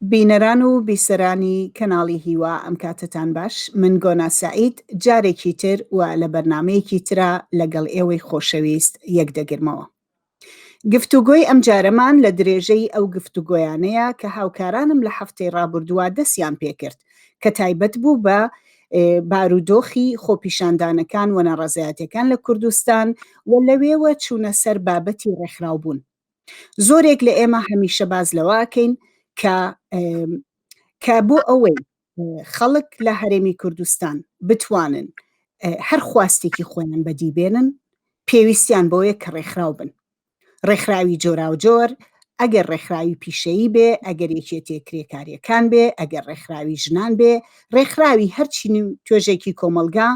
بینەران و بیسەرانی کەناڵی هیوا ئەم کاتەتان باش من گۆنا سەعید جارێکی تر و لە بەرنامەیەکی ترا لەگەڵ ئێوەی خۆشەویست یەک دەگرمەوە گفتوگۆی ئەم جارەمان لە درێژەی ئەو گفتوگۆیانەیە کە هاوکارانم لە هەفتەی ڕابوردووە دەسیان پێکرد کە تایبەت بوو بە بارودۆخی خۆپیشاندانەکان و ناڕەزایەتەکان لە کوردستان و لەوێوە چوونە سەر بابەتی ڕێکخراوبوون زۆرێک لە ئێمە هەمیشە باز لەوە ئەکەین کە کە بۆ ئەوەی خەڵک لە هەرێمی کوردستان بتوانن هەر خواستێکی خۆیان بەدی بێنن پێویستیان بۆیە کە ڕێکخراو بن ڕێکخراوی جۆرا و جۆر ئەگەر ڕێکخراوی پیشەیی بێ ئەگەر یەکێتێ کرێکاریەکان بێ ئەگەر ڕێکخراوی ژنان بێ ڕێکخراوی هەرچی توێژێکی کۆمەلگا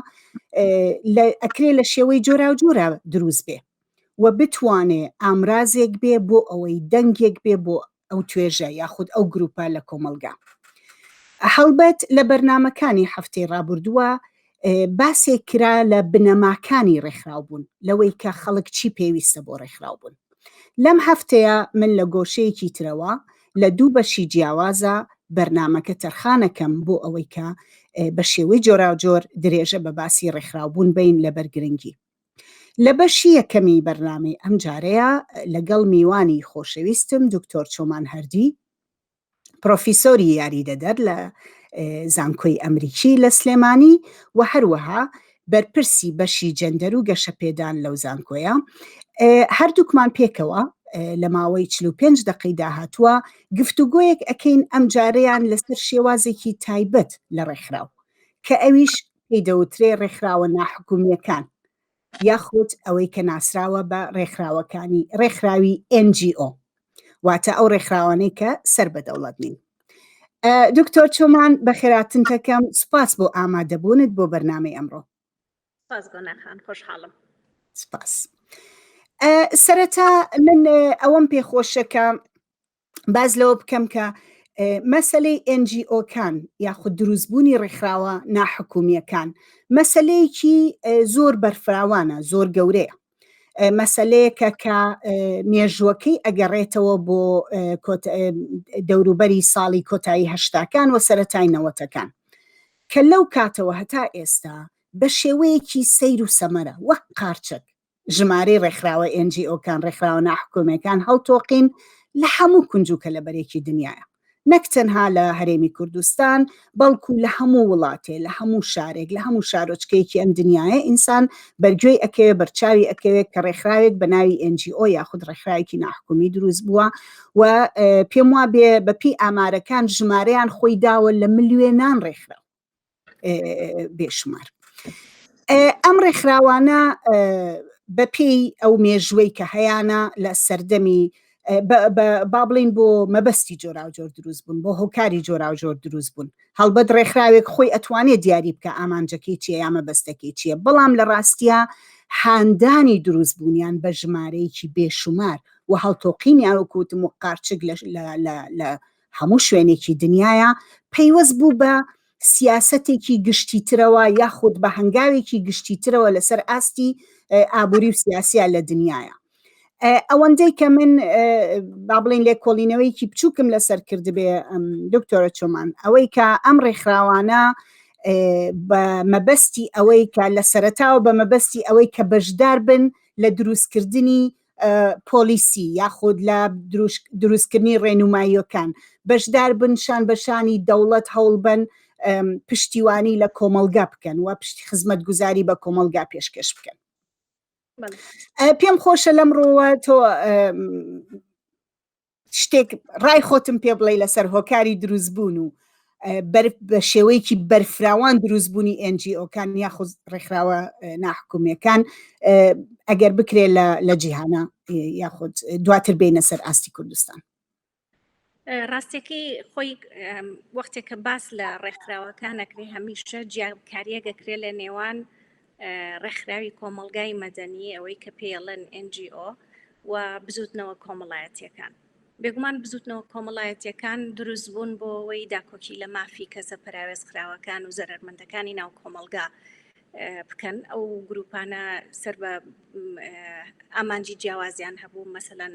ئەکرێ لە شێوەی جۆرا و جۆرا دروست بێ و بتوانێ ئامرازێک بێ بۆ ئەوەی دەنگێک بێ بۆ ئەو توێژە یاخود ئەو گروپە لە کۆمەڵگا. هەڵبەت لە بەرنامەکانی هەفتەی ڕابوردووە باسێک کرا لە بنەماکانی ڕێکخراوبوون لەوەی کە خەڵک چی پێویستە بۆ ڕێکخراوبوون. لەم هەفتەیە من لە گۆشەیەکی ترەوە لە دوو بەشی جیاوازە بەرنامەکە تەرخانەکەم بۆ ئەوەی کە بە شێوەی جۆراوجۆر درێژە بە باسی ڕێکخراوبوون بین لەبەر گرنگی. لە بەشی یەکەمی بەرنامەی ئەم جارەیا لەگەڵ میوانی خۆشەویستم دکتۆر چۆمان هەردی پرۆفیسۆری یاریدەدەر لە زانکۆی ئەمریکی لە سلێمانی و هەروەها بەرپرسی بەشی جەندەر و گەشەپێدان لەو زانکۆیە هەردووکمان پێکەوە لە ماوەی 45 دقی داهاتوە گفتوگۆیەک ئەکەین ئەم جارەیان لەسەر شێوازێکی تایبەت لە ڕێکخراو کە ئەویش پێی دەوترێ ڕێکخراوە ناحکومییەکان یاخود ئەوەی کە ناسراوە بە ڕێکخراوەکانی ڕێکخراوی NGO واتە ئەو ڕێکخراوانەی کە سەر بە دەوڵەت نین دکتۆر چۆمان بە خێراتن تەکەم سوپاس بۆ ئامادەبوونت بۆ بەرنمەی ئەمڕۆ سپاس بۆ ناخان خۆشحاڵم سپاس سەرەتا من ئەوەم پێخۆشەکە باز لەوە بکەم کە مەسلەی NGOکان یاخود دروستبوونی ڕێکخراوە ناحکومیەکان مەسلەیەکی زۆر بەرفراوانە زۆر گەورەیە مەسلەیەکە کە مێژوەکەی ئەگەڕێتەوە بۆ دەوروبەری ساڵی کۆتایی هەشتاکان و سەتای نەوەتەکان کە لەو کاتەوە هەتا ئێستا بە شێوەیەکی سیر و سەمەرە وەک قارچک ژمارەی ڕێکخراوە ئێنجیئۆکان ڕێکخراوە ناحکومەکان هەڵتۆقین لە هەموو کونج و کەلەبەرێکی دنیاە نەک تەنها لە هەرێمی کوردستان بەڵکو لە هەموو وڵاتێ لە هەموو شارێک لە هەموو شارۆچکەیەکی ئەم دنیاە ئینسان بەرگوێی ئەکەوێ بەرچاوی ئەکەوێت کە ڕێکخراوێک بە ناوی NGO یاخود ڕێکخراوێکی ناحکومی دروست بووە و پێم وا بێ بەپی ئامارەکان ژمارەیان خۆی داوە لە ملیێنان ڕێکخراو بێشمار ئەم ڕێکخراوانە بەپێی ئەو مێژوەی کە هەیانە لە سەردەمی با بڵین بۆ مەبەستی جۆراوجۆر دروست بوون بۆ هۆکاری جۆراوجۆر دروست بوون هەڵبەت ڕێکخراوێک خۆی ئەتوانێت دیاری بکە ئامانجەکەی چیە یا مەبەستەکەی چییە بەڵام لە ڕاستە هاندانی دروست بوونیان بە ژمارەیەکی بێشومار و هەڵتۆقینی ئەوکوتم و قارچک لە هەموو شوێنێکی دنیایە پەیوەست بوو بە سیاسەتێکی گشتیترەوە یاخود بە هەنگاوێکی گشتیترەوە لەسەر ئاستی ئابووری و سیاسیە لە دنیاە ئەوەندەی کە من با بڵین لێ کۆڵینەوەیکی بچووکم لەسەر کردبێ دکتۆرە چۆمان ئەوەی کە ئەم ڕێکخراوانە بە مەبەستی ئەوەی کە لە سەرتاوە بە مەبەستی ئەوەی کە بەشدار بن لە دروستکردنی پۆلیسی یاخود لە دروستکردنی ڕێنماییەکان بەشدار بن شان بەشانی دەوڵەت هەوڵبن پشتیوانی لە کۆمەلگا بکەن و پشتی خزمەت گوزاری بە کۆمەلگا پێشکەش بکەن پێم خۆشە لەم ڕۆوە تۆ شتێک ڕای خۆتم پێ بڵێ لەسەر هۆکاری دروست بوون و بە شێوەیەکی بەرفراوان دروست بوونی NGOکان یاخود ڕێکخراوە ناحکومەکان ئەگەر بکرێت لە جیهانە یاخود دواتر بینە سەر ئاستی کوردستان ڕاستەکەی خۆی وەختێک کە باس لە ڕێکخراوەکانەکرێ هەمیشە جیاکاریە گەکرێ لە نێوان ڕێکخراوی کۆمەڵگای مەدەنی، ئەوەی کە پێی ئەڵێن NGO، و بزووتنەوە کۆمەڵایەتییەکان. بێگومان بزووتنەوە کۆمەڵایەتییەکان دروست بوون بۆ ئەوەی داکۆکی لە مافی کەسە پەراوێزخراوەکان و زەرەرمەندەکانی ناو کۆمەڵگا بکەن. ئەو گرووپانە سەر بە ئامانجی جیاوازیان هەبوو، مەسەلەن،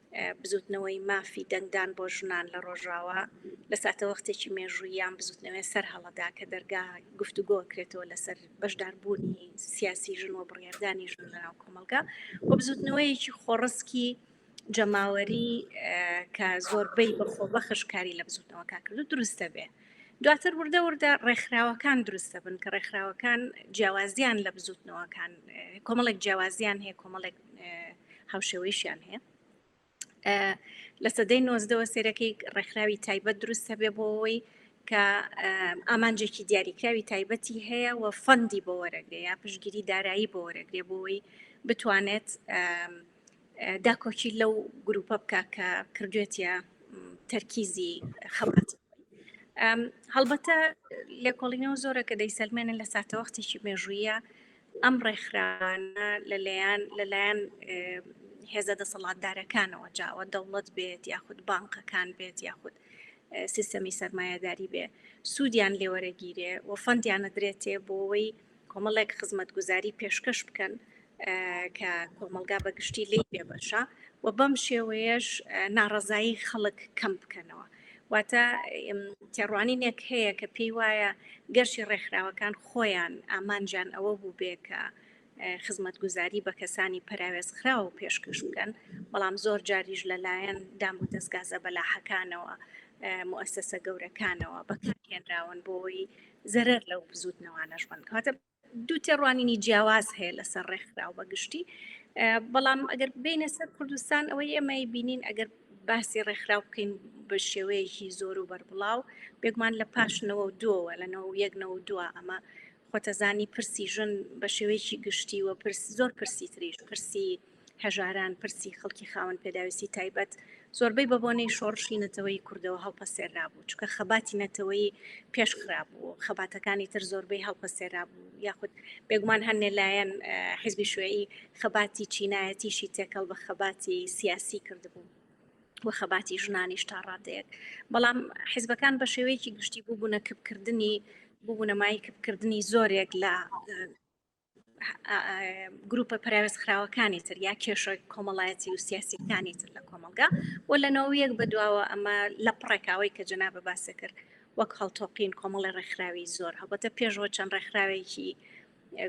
بزووتنەوەی مافی دەنگدان بۆ ژنان لە ڕۆژاوا لە ساتەوەختێکی مێژووییان بزووتنەوەێ سەر هەڵەدا کە دەرگا گفتوگۆ کرێتەوە لەسەر بەشداربوونی سیاسی ژن و بڕێردانی ژن لەناو کۆمەلگا و بزووتنەوەیەکی خۆڕسکی جەماوەری کە زۆربەی بەخۆ بەخشکاری لە بزووتنەوەکە کردو دروستە بێ. دواتر وردە وردە ڕێکخراوەکان دروستە بن کە ڕێکخراوەکان جیاوازیان لە بزوتنەوەکان کۆمەڵێک جیاوازیان هەیە کۆمەڵێک هاوشێوەیشیان هەیە لە سەدەی نۆزدەوە سێرەکەی ڕێکخراوی تایبەت دروست هەبێ بۆەوەی کە ئامانجێکی دیاریکراوی تایبەتی هەیە و فەندی بۆ وەرەگرێ یا پشگیری دارایی بۆ وەرەگرێ بۆەوەی بتوانێت داکۆکی لەو گروپە بکە کە کردوێتە تەرکیزی خەڵات هەڵبەتە لێکۆڵینەوە زۆرە کە دەیسەلمێنن لە ساتەوەختێکی مێژوویە ئەم ڕێکخراوانە لەلایەن لەلایەن هێزە دەسەڵاتدارەکانەوە جاوە دەوڵەت بێت یاخود بانقەکان بێت یاخود سیستەمی سەرمایهداری بێ سوودیان لێوەرەگیرێ و فەندیانە درێتێ بۆەوەی کۆمەڵێک خزمەت گوزاری پێشکەش بکەن کە کۆمەلگا بەگشتی لی پێبەشە و بەم شێوەیەش ناڕزایی خەڵک کەم بکەنەوە واتە تێڕوانینێک هەیە کە پێی وایە گەرچی ڕێکخراوەکان خۆیان ئامانجان ئەوە بوو بێ کە خزمەتگوزاری بە کەسانی پەراوێزخراو پێشکەش بکەن بەڵام زۆر جاریش لەلایەن دام و دەستگازە بەلاحەکانەوە مؤسسە گەورەکانەوە بەکارهێنراون بۆی زەرەر لەو بزوتنەوانەش بن کاتە دوو تێڕوانینی جیاواز هەیە لەسەر ڕێکخراو بە گشتی بەڵام ئەگەر بینە سەر کوردستان ئەوەی ئێمەی بینین ئەگەر باسی ڕێکخراو بکەین بە شێوەیەکی زۆر و بەربڵاو بێگومان لە پاشنەوە و دووەوە لەنەوە یەکنەوە دووە ئەمە خۆتەزانی پرسی ژن بە شێوەیەکی گشتی وە پرس زۆر پرسی تریش پرسی هەژاران، پرسی خەڵکی خاوەن پێداویستی تایبەت زۆربەی بە بۆنەی شۆڕشی نەتەوەی کوردەوە هەڵپەسێرابوو، چونکە خەباتی نەتەوەیی پێش خرابوو، خەباتەکانی تر زۆربەی هەڵپەسێرابوو، یاخود بێگومان هەندێ لایەن حزبی شوێی خەباتی چینایەتیشی تێکەڵ بە خەباتی سیاسی کردبوو. و خەباتی ژنانیش تا ڕادەیەک بەڵام حزبەکان بە شێوەیەکی گشتی بووبوونە کپکردنی بوونەمای کپکردنی زۆرێک لە گروپە پراوێز خراوەکانی تر یا کێشە کۆمەڵایەتی و سیاسیەکانی تر لە کۆمەلگا و لە ناویەک بەدواوە ئەمە لە پڕێکاوی کە جنا بە باسە کرد وەک هەڵتۆقین کۆمەڵی ڕێکخراوی زۆر هەڵبەتە پێشەوە چەند ڕێکخراوێکی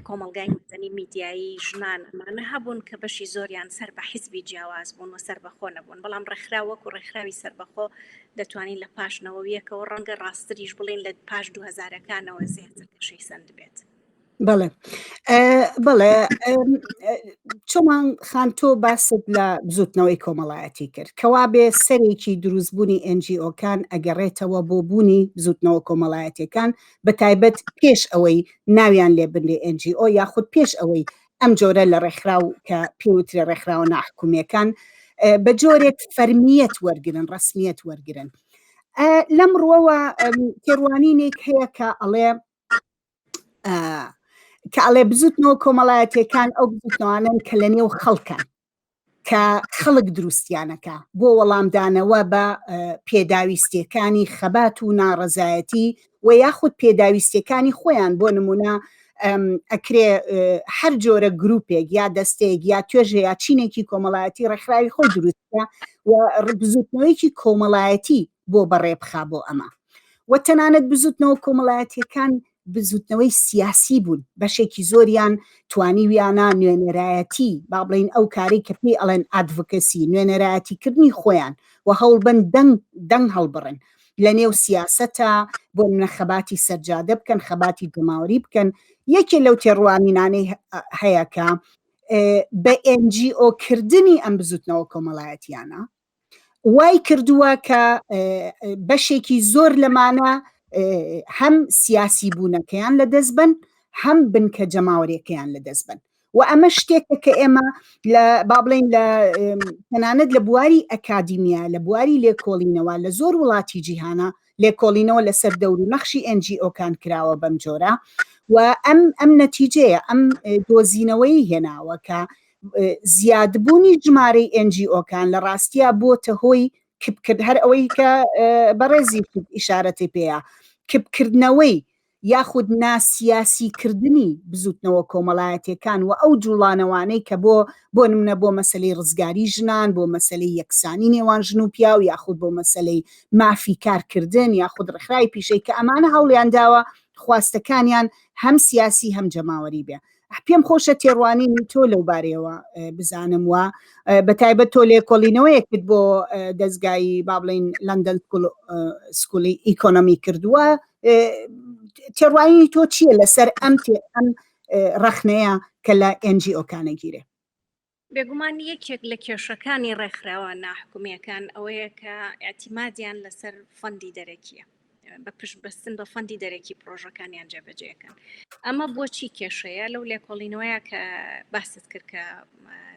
کۆمەلگای مەدەنی میدیایی ژنان ئەمانە هەبوون کە بەشی زۆریان سەر بە حیزبی جیاواز بوون و سەر بەخۆ نەبوون بەڵام ڕێکخرا وەکو ڕێکخراوی سربەخۆ دەتوانین لە پاشنەوەویەکەوە ڕەنگە ڕاستریش بڵین لە پاش دوهزارەکانەوە زیاتر کەشەی سند بێت. بەڵێ بەڵێ چۆمان خان تۆ باست لە بزوتنەوەی کۆمەڵایەتی کرد کەوا بێ سەرێکی دروستبوونی ئەنجیۆکان ئەگەڕێتەوە بۆ بوونی بزوتنەوە کۆمەڵایەتەکان بە تایبەت پێش ئەوەی ناویان لێ بنێ ئەنجیۆ یاخود پێش ئەوەی ئەم جۆرە لە ڕێکخراو کە پێوترە ڕێکخراوە ناحکومیەکان بە جۆرێک فەرمیەت وەرگن ڕسمیەت وەرگن لەم ڕوەوە تێڕوانینێک هەیە کە ئەڵێ کە ئەڵێ بزوتنەوە کۆمەڵایەتەکان ئەو بزوتنەوانن کە لە نێو خەڵکەن کە خەڵک دروستیانەکە بۆ وەڵامدانەوە بە پێداویستیەکانی خەبات و ناڕەزایەتی و یاخود پێداویستیەکانی خۆیان بۆ نمونە ئەکرێ هەر جۆرە گرروپێک یا دەستێک یا توێژە یا چینێکی کۆمەڵایەتی ڕێکخراوی خۆ دروستە و ڕبزوتنەوەیکی کۆمەڵایەتی بۆ بەڕێ بخا بۆ ئەمە و تەنانەت بزوتنەوە کۆمەڵایەتیەکان بزوتنەوەی سیاسی بوون بەشێکی زۆریان توانیویانە نوێنەرایەتی با بڵین ئەو کاری کە پێی ئەڵێن ئادڤکەسی نوێنەرایەتیکردنی خۆیان و هەوڵبن دەنگ دەنگ هەڵبڕن لە نێو سیاسەتە بۆ منە خەباتی سەرجادە بکەن خەباتی دەماوەری بکەن یەکێ لەو تێڕوانینانەی هەیەکە بە ئەنجیۆ کردنی ئەم بزوتنەوە کۆمەڵایەتیانە وای کردووە کە بەشێکی زۆر لەمانە هەم سیاسی بوونەکەیان لە دەست بن هەم بنکە جەماوەرێکەیان لە دەست بن و ئەمە شتێکە کە ئێمە لە با بڵین لە تەنانەت لە بواری ئەکادیمیا لە بواری لێکۆڵینەوە لە زۆر وڵاتی جیهانە لێکۆڵینەوە لەسەر دەور و نەخشی ئەنجی ئۆکان کراوە بەم جۆرە و ئەم ئەم نەتیجەیە ئەم دۆزینەوەی هێناوە کە زیادبوونی ژمارەی ئەنجیۆکان لە ڕاستیا بۆتە هۆی کپکرد هەر ئەوەی کە بەڕێزی ئیشارەتی پێەیە کپکردنەوەی یاخود ناسیاسی کردنی بزوتنەوە کۆمەڵایەتەکان و ئەو جوڵانەوانەی کە بۆ بۆ نمونە بۆ مەسلەی ڕزگاری ژنان بۆ مەسلەی یەکسانی نێوان ژن و پیاو یاخود بۆ مەسلەی مافی کارکردن یاخود ڕخرای پیشەی کە ئەمانە هەوڵیان داوە خواستەکانیان هەم سیاسی هەم جەماوەری بێ پێم خۆشە تێڕوانینی تۆ لەو بارەیەوە بزانم وە بە تایبەت تۆ لێکۆڵینەوەیەکت بۆ دەستگایی با بڵین لەندەن سکولی ئیکۆنۆمی کردووە تێڕوانینی تۆ چییە لەسەر ئەم تێ ئەم ڕەخنەیە کە لە ئەنجی ئۆکانە گیرێ بێگومان یەکێک لە کێشەکانی ڕێکخراوە ناحکومییەکان ئەوەیە کە ئاعتیمادیان لەسەر فەندی دەرەکیە بە پشت بەستن بە فەندی دەرەکی پرۆژەکانیان جێبەجێەکەن ئەمە بۆچی کێشەیە لەو لێکۆڵینەوەیە کە باست کرد کە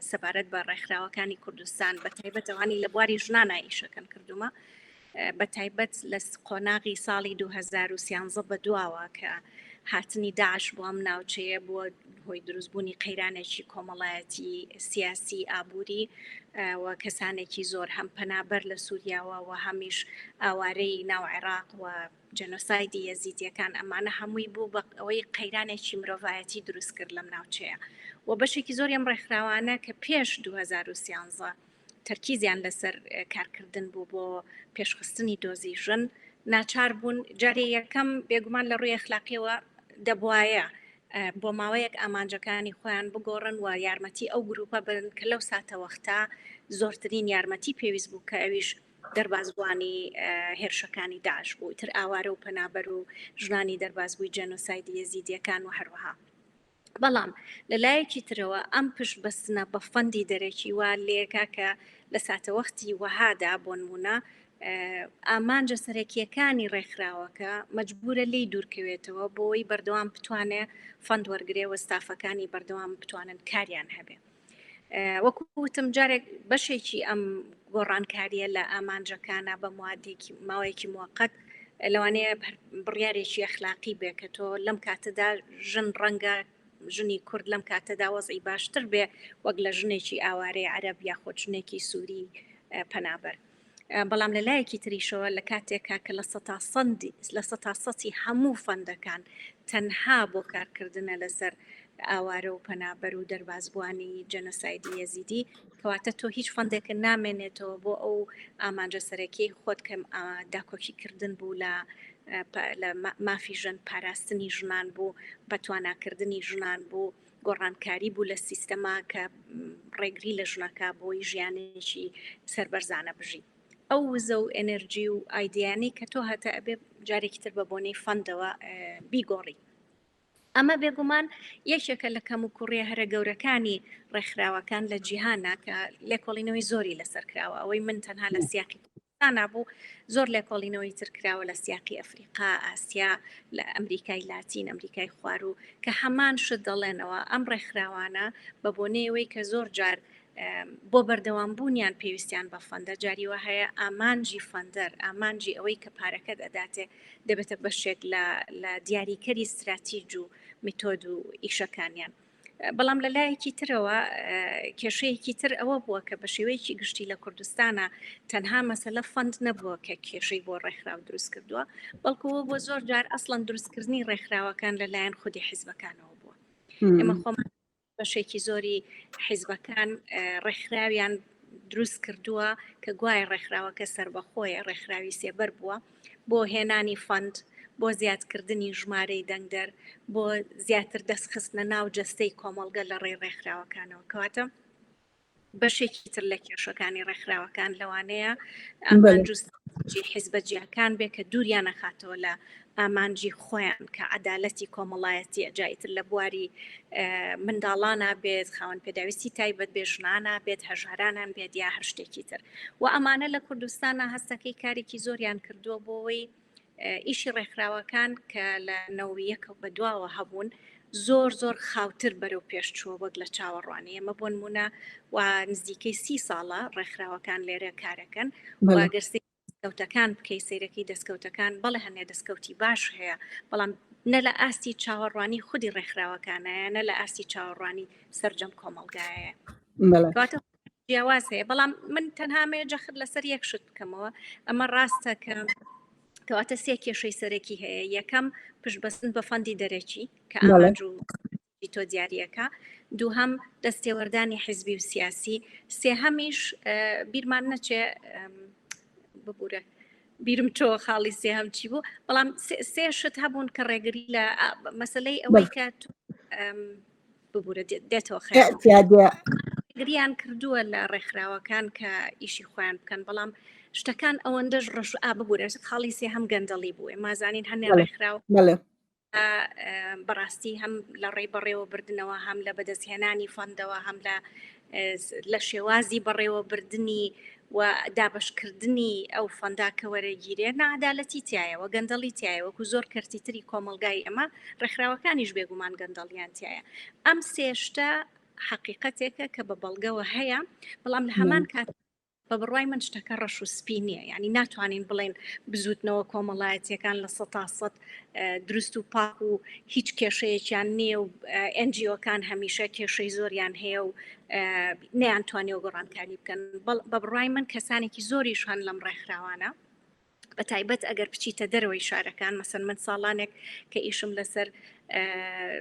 سەبارەت بە ڕێکخراوەکانی کوردستان بە تایبەتەوانی لە بواری ژنانە ئیشەکەن کردومە بە تایبەت لە قۆناغی ساڵی دوو هەزار و سیانزە بەدواوە کە هاتنی داعش بۆ ئەم ناوچەیە بووە هۆی دروستبوونی قەیرانێکی کۆمەڵایەتی سیاسی ئابووری و کەسانێکی زۆر هەم پەنابەر لە سووریاوە و هەمیش ئاوارەی ناو عێراق و جەنۆسایدی یەزیدیەکان ئەمانە هەمووی بوو بە ئەوەی قەیرانێکی مرۆڤایەتی دروست کرد لەم ناوچەیە و بەشێکی زۆر ئەم ڕێکخراوانە کە پێش 2013 تەرکیزیان لەسەر کارکردن بوو بۆ پێشخستنی دۆزی ژن ناچار بوون جارێ یەکەم بێگومان لە ڕووی اخلاقیەوە دەبواە بۆ ماوەیەک ئامانجەکانی خۆیان بگۆڕن و یارمەتی ئەو گروپە بن کە لەو ساتەوەختا زۆرترین یارمەتی پێویست بوو کە ئەویش دەربازبووانی هێرشەکانی داش بوو تر ئاوارە و پەنابەر و ژنانی دەربازبووی جەنۆسایدی یەزیدیەکان و هەروەها بەڵام لە لایەکی ترەوە ئەم پشت بەستنە بە فەندی دەرەکی وا لێکا کە لە ساتەوەختی وەهادا بۆنمونە ئامانجە سەرەکیەکانی ڕێکخراوەکە مەجبورە لی دوورکەوێتەوە بۆی بەردەوام بتوانێ فەند وەرگێ وە ستافەکانی بەردەوام بتوانن کاریان هەبێ. وەکو وتم جارێک بەشێکی ئەم گۆڕانکاریە لە ئامانجەکانە بە موادێکی ماوەیەکی موقت لەوانەیە بڕیارێکی ئەخلاقی بێ کە تۆ لەم کاتەدا ژن ڕەنگە ژنی کورد لەم کاتەدا وەزی باشتر بێ وەک لە ژنێکی ئاوارەی عەرب یا خۆچنێکی سووری پەنابەر بەڵام لە لایەکی تریشەوە لە کاتێکا کە لە سەتا سەندی لە سەتا سەتی هەموو فەندەکان تەنها بۆ کارکردنە لەسەر ئاوارە و پەنابەر و دەربازبووانی جەنەسایدی یەزیدی کەواتە تۆ هیچ فەندێکە نامێنێتەوە بۆ ئەو ئامانجە سەرەکی خۆت کەم داکۆکیکردن بوو لە لە مافی ژەن پاراستنی ژنان بوو بەتواناکردنی ژنان بوو گۆڕانکاری بوو لە سیستەما کە ڕێگری لە ژنەکا بۆی ژیانێکی سەربەرزانە بژی ئەو وزە و ئەنەرجی و ئایدیانی کە تۆ هەتە ئەبێ جارێکی تر بە بۆنەی فەندەوە بیگۆڕی ئەمە بێگومان یەکێکە لە کەم و کوڕێ هەرە گەورەکانی ڕێکخراوەکان لە جیهانە کە لێکۆڵینەوەی زۆری لەسەر کراوە ئەوەی من تەنها لە سیاقی دانابوو، زۆر لێکۆڵینەوەی تر کراوە لە سیاقی ئەفریقا، ئاسیا، لە ئەمریکای لاتین، ئەمریکای خواروو کە هەمان شت دەڵێنەوە، ئەم ڕێکخراوانە بە بۆنەی ئەوەی کە زۆر جار بۆ بەردەوام بوونیان پێویستیان بە فەندە، جاری وا هەیە ئامانجی فەندەر، ئامانجی ئەوەی کە پارەکەت ئەداتێ دەبێتە بەشێک لە لە دیاریکەری ستراتیج و میتۆد و ئیشەکانیان. بەڵام لە لایەکی ترەوە کێشەیەکی تر ئەوە بووە کە بە شێوەیەکی گشتی لە کوردستانە تەنها مەسەلە فەند نەبووە کە کێشەی بۆ ڕێکخراو دروست کردووە بەڵکووە بۆ زۆر جار ئەسڵەن دروستکردنی ڕێکخراوەکان لەلایەن خودی حیزبەکانەوە بووە ئێمە خۆمان بەشێکی زۆری حیزبەکان ڕێکخراویان دروست کردووە کە گوایە ڕێکخراوەکە سربەخۆیە ڕێکخراوی سێبەر بووە. بۆ هێنانی فەند، بۆ زیادکردنی ژمارەی دەنگدەر، بۆ زیاتر دەست خستنە ناو جەستەی کۆمەڵگە لە ڕێی ڕێکخراوەکانەوە. کەواتە بەشێکی تر لە کێشەکانی ڕێکخراوەکان لەوانەیە ئامانجی حیزبە جیاکان بێ کە دووریان نەخاتەوە لە ئامانجی خۆیان کە عدالەتی کۆمەڵایەتیە جایتر لە بواری منداڵانە بێت خاوەن پێداویستی تایبەت بێژنانە بێت هەژارانان بێت یا هەر شتێکی تر وە ئەمانە لە کوردستانا هەستەکەی کارێکی زۆریان کردووە بۆەوەی ئیشی ڕێکخراوەکان کە لە نەوەیەکە بە دواوە هەبوون زۆر زۆر خاوتر بەرەو پێشچووە وەک لە چاوەڕوانی ئەمە بۆن مونە و نزیکەی سی ساڵە ڕێکخراوەکان لێرە کارەکەن واگەرسی دەستکەوتەکان بکەی سیرەکەی دەستکەوتەکان بەڵێ هەنێ دەستکەوتی باش هەیە بەڵام نە لە ئاستی چاوەڕوانی خودی ڕێکخراوەکانایە نە لە ئاستی چاوەڕوانی سرجەم کۆمەلگایە جیاواز هەیە بەڵام من تەنهامەیە جەخت لەسەر یەک شت بکەمەوە ئەمە ڕاستە کە کەواتە سێ کێشەی سەرەکی هەیە یەکەم پشتبەستن بە فەندی دەرەکی کە ئامانج و تۆ دیارریەکە دووهەم دەستێوەردانی حیزبی و سیاسی سێهەمیش بیرمان نەچێ ببورە بیرم تۆ خاڵی سێهەم چی بوو بەڵام سێ شت هەبوون کە ڕێگری لە مەسلەی ئەوەی کە ببورە دێتەوە خیانەتگریان کردووە لە ڕێکخراوەکان کە ئیشی خۆیان بکەن بەڵام شتەکان ئەوەندەش ڕەش ئا ببورە خاڵی سێ هەم گەندەڵی بووێ مازانین هەنێ ڕێکخراوە بەڕاستی هەم لە ڕێی بەڕێوە بردنەوە هەم لە بەدەستهێنانی فەندەوە هەم لە لە شێوازی بەڕێوەبردنی و دابەشکردنی ئەو فەندا کە وەرەگیرێ نادالەتی تایەوە گەندەڵی تایەوەکو زۆر کەرتی تری کۆمەلگای ئەمە ڕێکخراوەکانیش بێگومان گەندەڵیان تایە ئەم سێشتە حقیقەتێکە کە بە بەڵگەوە هەیە بەڵام لە هەمان کات بە بڕوای من شتەکە ڕەش و سپی نییە یعنی ناتوانین بڵێن بزوتنەوە کۆمەڵایەتیەکان لە سە تا سەد دروست و پاک و هیچ کێشەیەکیان نییە و ئەنجیۆکان هەمیشە کێشەی زۆریان هەیە و نیان توانێ و گۆڕانکاری بکەن بە بڕای من کەسانێکی زۆریش هەن لەم ڕێکخراوانە بە تایبەت ئەگەر بچیتە دەرەوەی شارەکان مەسەن من ساڵانێک کە ئیشم لەسەر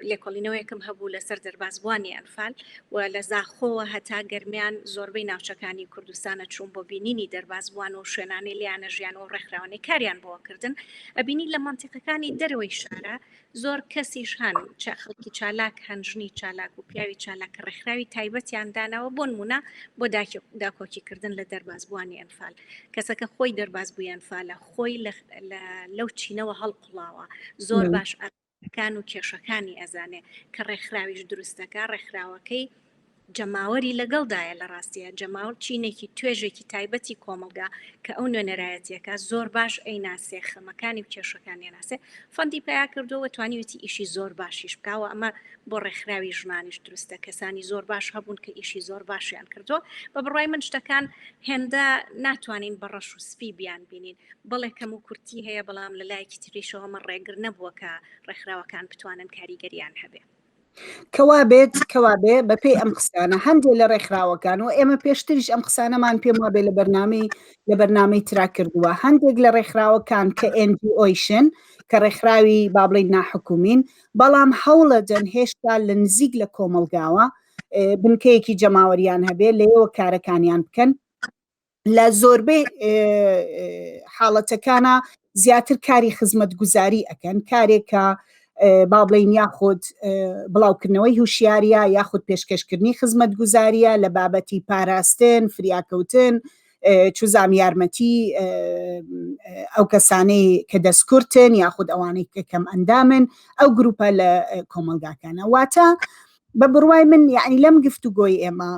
لێکۆڵینەوەیەکم هەبوو لەسەر دەربازبووانی ئەنفال و لە زاخۆوە هەتا گەرمیان زۆربەی ناوچەکانی کوردستانە چوون بۆ بینینی دەربازبووان و شوێنانی لیانە ژیان و ڕێکخراوانی کاریان بۆکردن ئەبینی لە منتیقەکانی دەرەوەی شارە زۆر کەسیش هەن چە خەڵکی چالاک هەن ژنی چالاک و پیاوی چالاکە ڕێکخراوی تایبەتیان داناوە بۆن مونە بۆ داکۆکیکردن لە دەرباز بووانی ئەنفال کەسەکە خۆی دەرباز بوویان فالە خۆی لەو چینەوە هەڵقڵاوە زۆر باش ئەکان و کێشەکانی ئەزانێ کە ڕێکخراویش دروستەکە ڕێکخراوەکەی جەماوەری لەگەڵدایە لە ڕاستیا جەماوەر چینێکی توێژێکی تایبەتی کۆمەڵگا کە ئەو نوێنەرایەتیەکە زۆر باش ئەی ناسێ خەمەکانی و کێشەکان نێناسێ فەندی پیا کردووە توانیویەتی ئیشی زۆر باشیش بکاوە ئەمە بۆ ڕێکخراوی ژنانیش دروستە کەسانی زۆر باش هەبوون کە ئیشی زۆر باشیان کردووە بە بڕای من شتەکان هێندە ناتوانین بە ڕەش و سپی بیان بینین بەڵێ کەم و کورتی هەیە بەڵام لە لایەکی تریشەوەمە ڕێگر نەبووە کە ڕێکخراوەکان بتوانن کاریگەریان هەبێت کەوابێت کەوابێ بەپێی ئەم قسانە هەندێک لە ڕێکخراوەکان و ئێمە پێشتریش ئەم قسانەمان پێم وابێ لە بەرنامەی لە بەرنامەی ترا کردووە هەندێک لە ڕێکخراوەکان کە ئۆیشن کە ڕێکخراوی بابلین ناحکومین بەڵام هەوڵەدەن هێشتا لە نزیک لە کۆمەلگاوە بنکەیەکی جەماوەریان هەبێ لەوە کارەکانیان بکەن لە زۆربەی حاڵەتەکانە زیاتر کاری خزمەت گوزاری ئەکەن کارێکە با بڵین یاخود بڵاوکردنەوەی هوشیاریە یاخود پێشکەشکردنی خزمەت گوزاریە لە بابەتی پاراستن فریاکەوتن چزام یارمەتی ئەو کەسانەی کە دەستکردن یاخود ئەوانەی کە کەم ئەندامن ئەو گروپە لە کۆمەلگاکانە واتە بە بڕوای من یعنی لەم گفتوگۆی ئێمە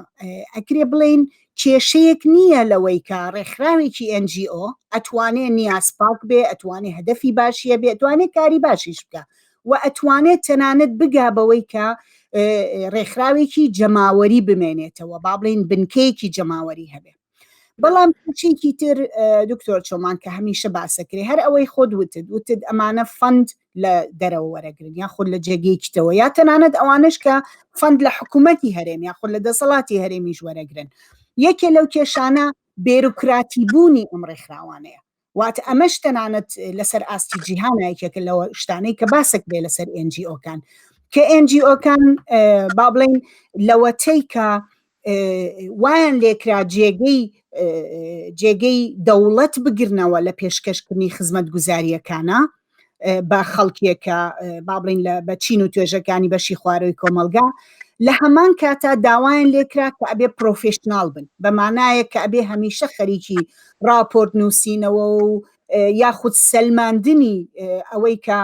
ئەکرێ بڵین کێشەیەک نییە لەوەی کە ڕێکخراوێکی NGO ئەتوانێ نیاز پاک بێ ئەتوانێ هەدەفی باشیە بێ ئەتوانێت کاری باشیش بکە و ئەتوانێت تەنانەت بگا بەوەی کە ڕێکخراوێکی جەماوەری بمێنێتەوە با بڵین بنکەیەکی جەماوەری هەبێ بەڵام چێکی تر دکتۆر چۆمان کە هەمیشە باسەکرێ هەر ئەوەی خۆت وتت وتت ئەمانە فەند لە دەرەوە وەرەگرن یا خود لە جێگەی کتەوە یا تەنانەت ئەوانش کە فەند لە حکوومەتتی هەرێم یا خود لە دەسەڵاتی هەرێمیش وەرەگرن یەکێ لەو کێشانە بێروکراتی بوونی ئەم ڕێکخراوانەیە واتە ئەمەش تەنانەت لەسەر ئاستی جیهانایکێکە لەوە شتانەی کە باسک بێ لەسەر NGOکان کە NGOکان با بڵین لەوەتەی کە وایان لێکرا جێگەی جێگەی دەوڵەت بگرنەوە لە پێشکەشکردنی خزمەت گوزاریەکانە بە خەڵکیەکە با بڵین لە بە چین و توێژەکانی بەشی خوارەوەی کۆمەلگا لە هەمان کاتا داوایان لێکرا کە ئەبێ پرۆفشنناڵ بن بەمانایە کە ئەبێ هەمیشە خەریکی راپۆرت نووسینەوە و یاخود سەلماندنی ئەوەی کە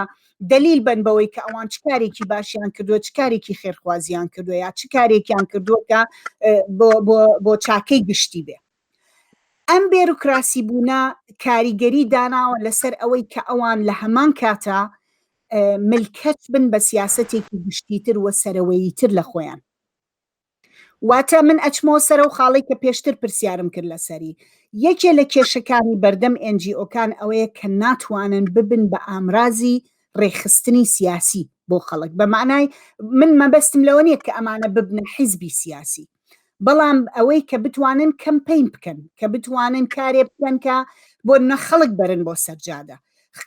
دەلیل بن بەوەی کە ئەوان چ کارێکی باشیان کردووە چ کارێکی خێرخوازیان کردووە یا چ کارێکیان کردووە کە بۆ چاکەی گشتی بێ ئەم بێروکراسی بوونە کاریگەری داناوە لەسەر ئەوەی کە ئەوان لە هەمان کاتە ملکەت بن بە سیاستێکی گشتیتر وە سەرەوەیی تر لە خۆیان واتە من ئەچمەوە سەرەو خاڵەی کە پێشتر پرسیارم کرد لەسەری، یەکێ لە کێشەکانی بەردەم ئێن جی ئۆکان ئەوەیە کە ناتوانن ببن بە ئامرازی ڕێکخستنی سیاسی بۆ خەڵک بە مەعنای من مەبەستم لەوە نیە کە ئەمانە ببنە حیزبی سیاسی بەڵام ئەوەی کە بتوانن کەمپین بکەن کە بتوانن کارێ بکەن کە بۆ نە خەڵک بەرن بۆ سەرجادە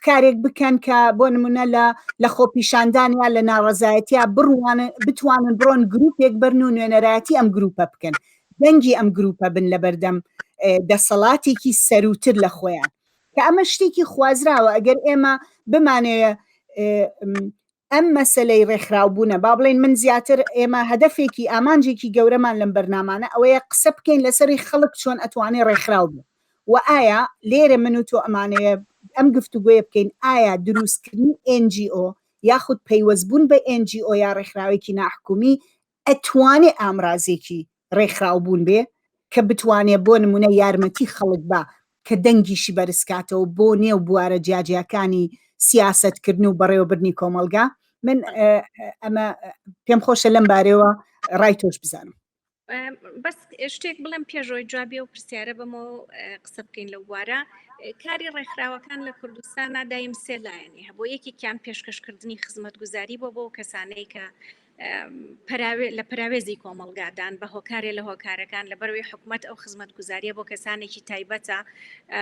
کارێک بکەن کە بۆ نمونە لە لە خۆپیشاندان یا لە ناڕزایەتیا بڕوان بتوانن بڕۆن گروپێک بەرن و نوێنەرایەتی ئەم گروپە بکەن دەنگی ئەم گروپە بن لە بەردەم دەسەڵاتێکی سەروتر لە خۆیان کە ئەمە شتێکی خوازراوە ئەگەر ئێمە بمانەیە ئەم مەسەلەی ڕێکخراوبوونە، با بڵێین من زیاتر ئێمە هەدەفێکی، ئامانجێکی گەورەمان لەم بەرنامانە ئەوەیە قسە بکەین لەسەری خەڵک چۆن ئەتوانێ ڕێکخراو بێ و ئایا لێرە من و تۆ ئەمانەوێ ئەم گفتوگۆیە بکەین ئایا درووستکردنی ئێن جی ئۆ یاخود پەیوەستبوون بە ئێن جی ئۆ یا ڕێکخراوێکی ناحکومی ئەتوانێ ئامرازێکی ڕێکخراو بوون بێ کە بتوانێ بۆ نموونە یارمەتی خەڵک با کە دەنگیشی بەرزکاتەوە بۆ نێو بوارە جیاجیاکانی سیاسەتکردن و بەڕێوەبردنی کۆمەڵگا من ئەمە پێم خۆشە لەم بارەوە ڕای تۆش بزانم بەس شتێک بڵێم پێشەوەی جوابێ و پرسیارە بەمە قسە بکەین لە بوارە کاری ڕێکخراوەکان لە کوردستان نادایم سێ لایەنی هەبوو یەکێکیان پێشکەشکردنی خزمەت گوزاری بۆ بۆ کەسانەی کە لە پەراوێزی کۆمەڵگادان بە هۆکارێ لە هۆکارەکان لە بەروی حکوومەت ئەو خزمەت گوزاریە بۆ کەسانێکی تایبەتە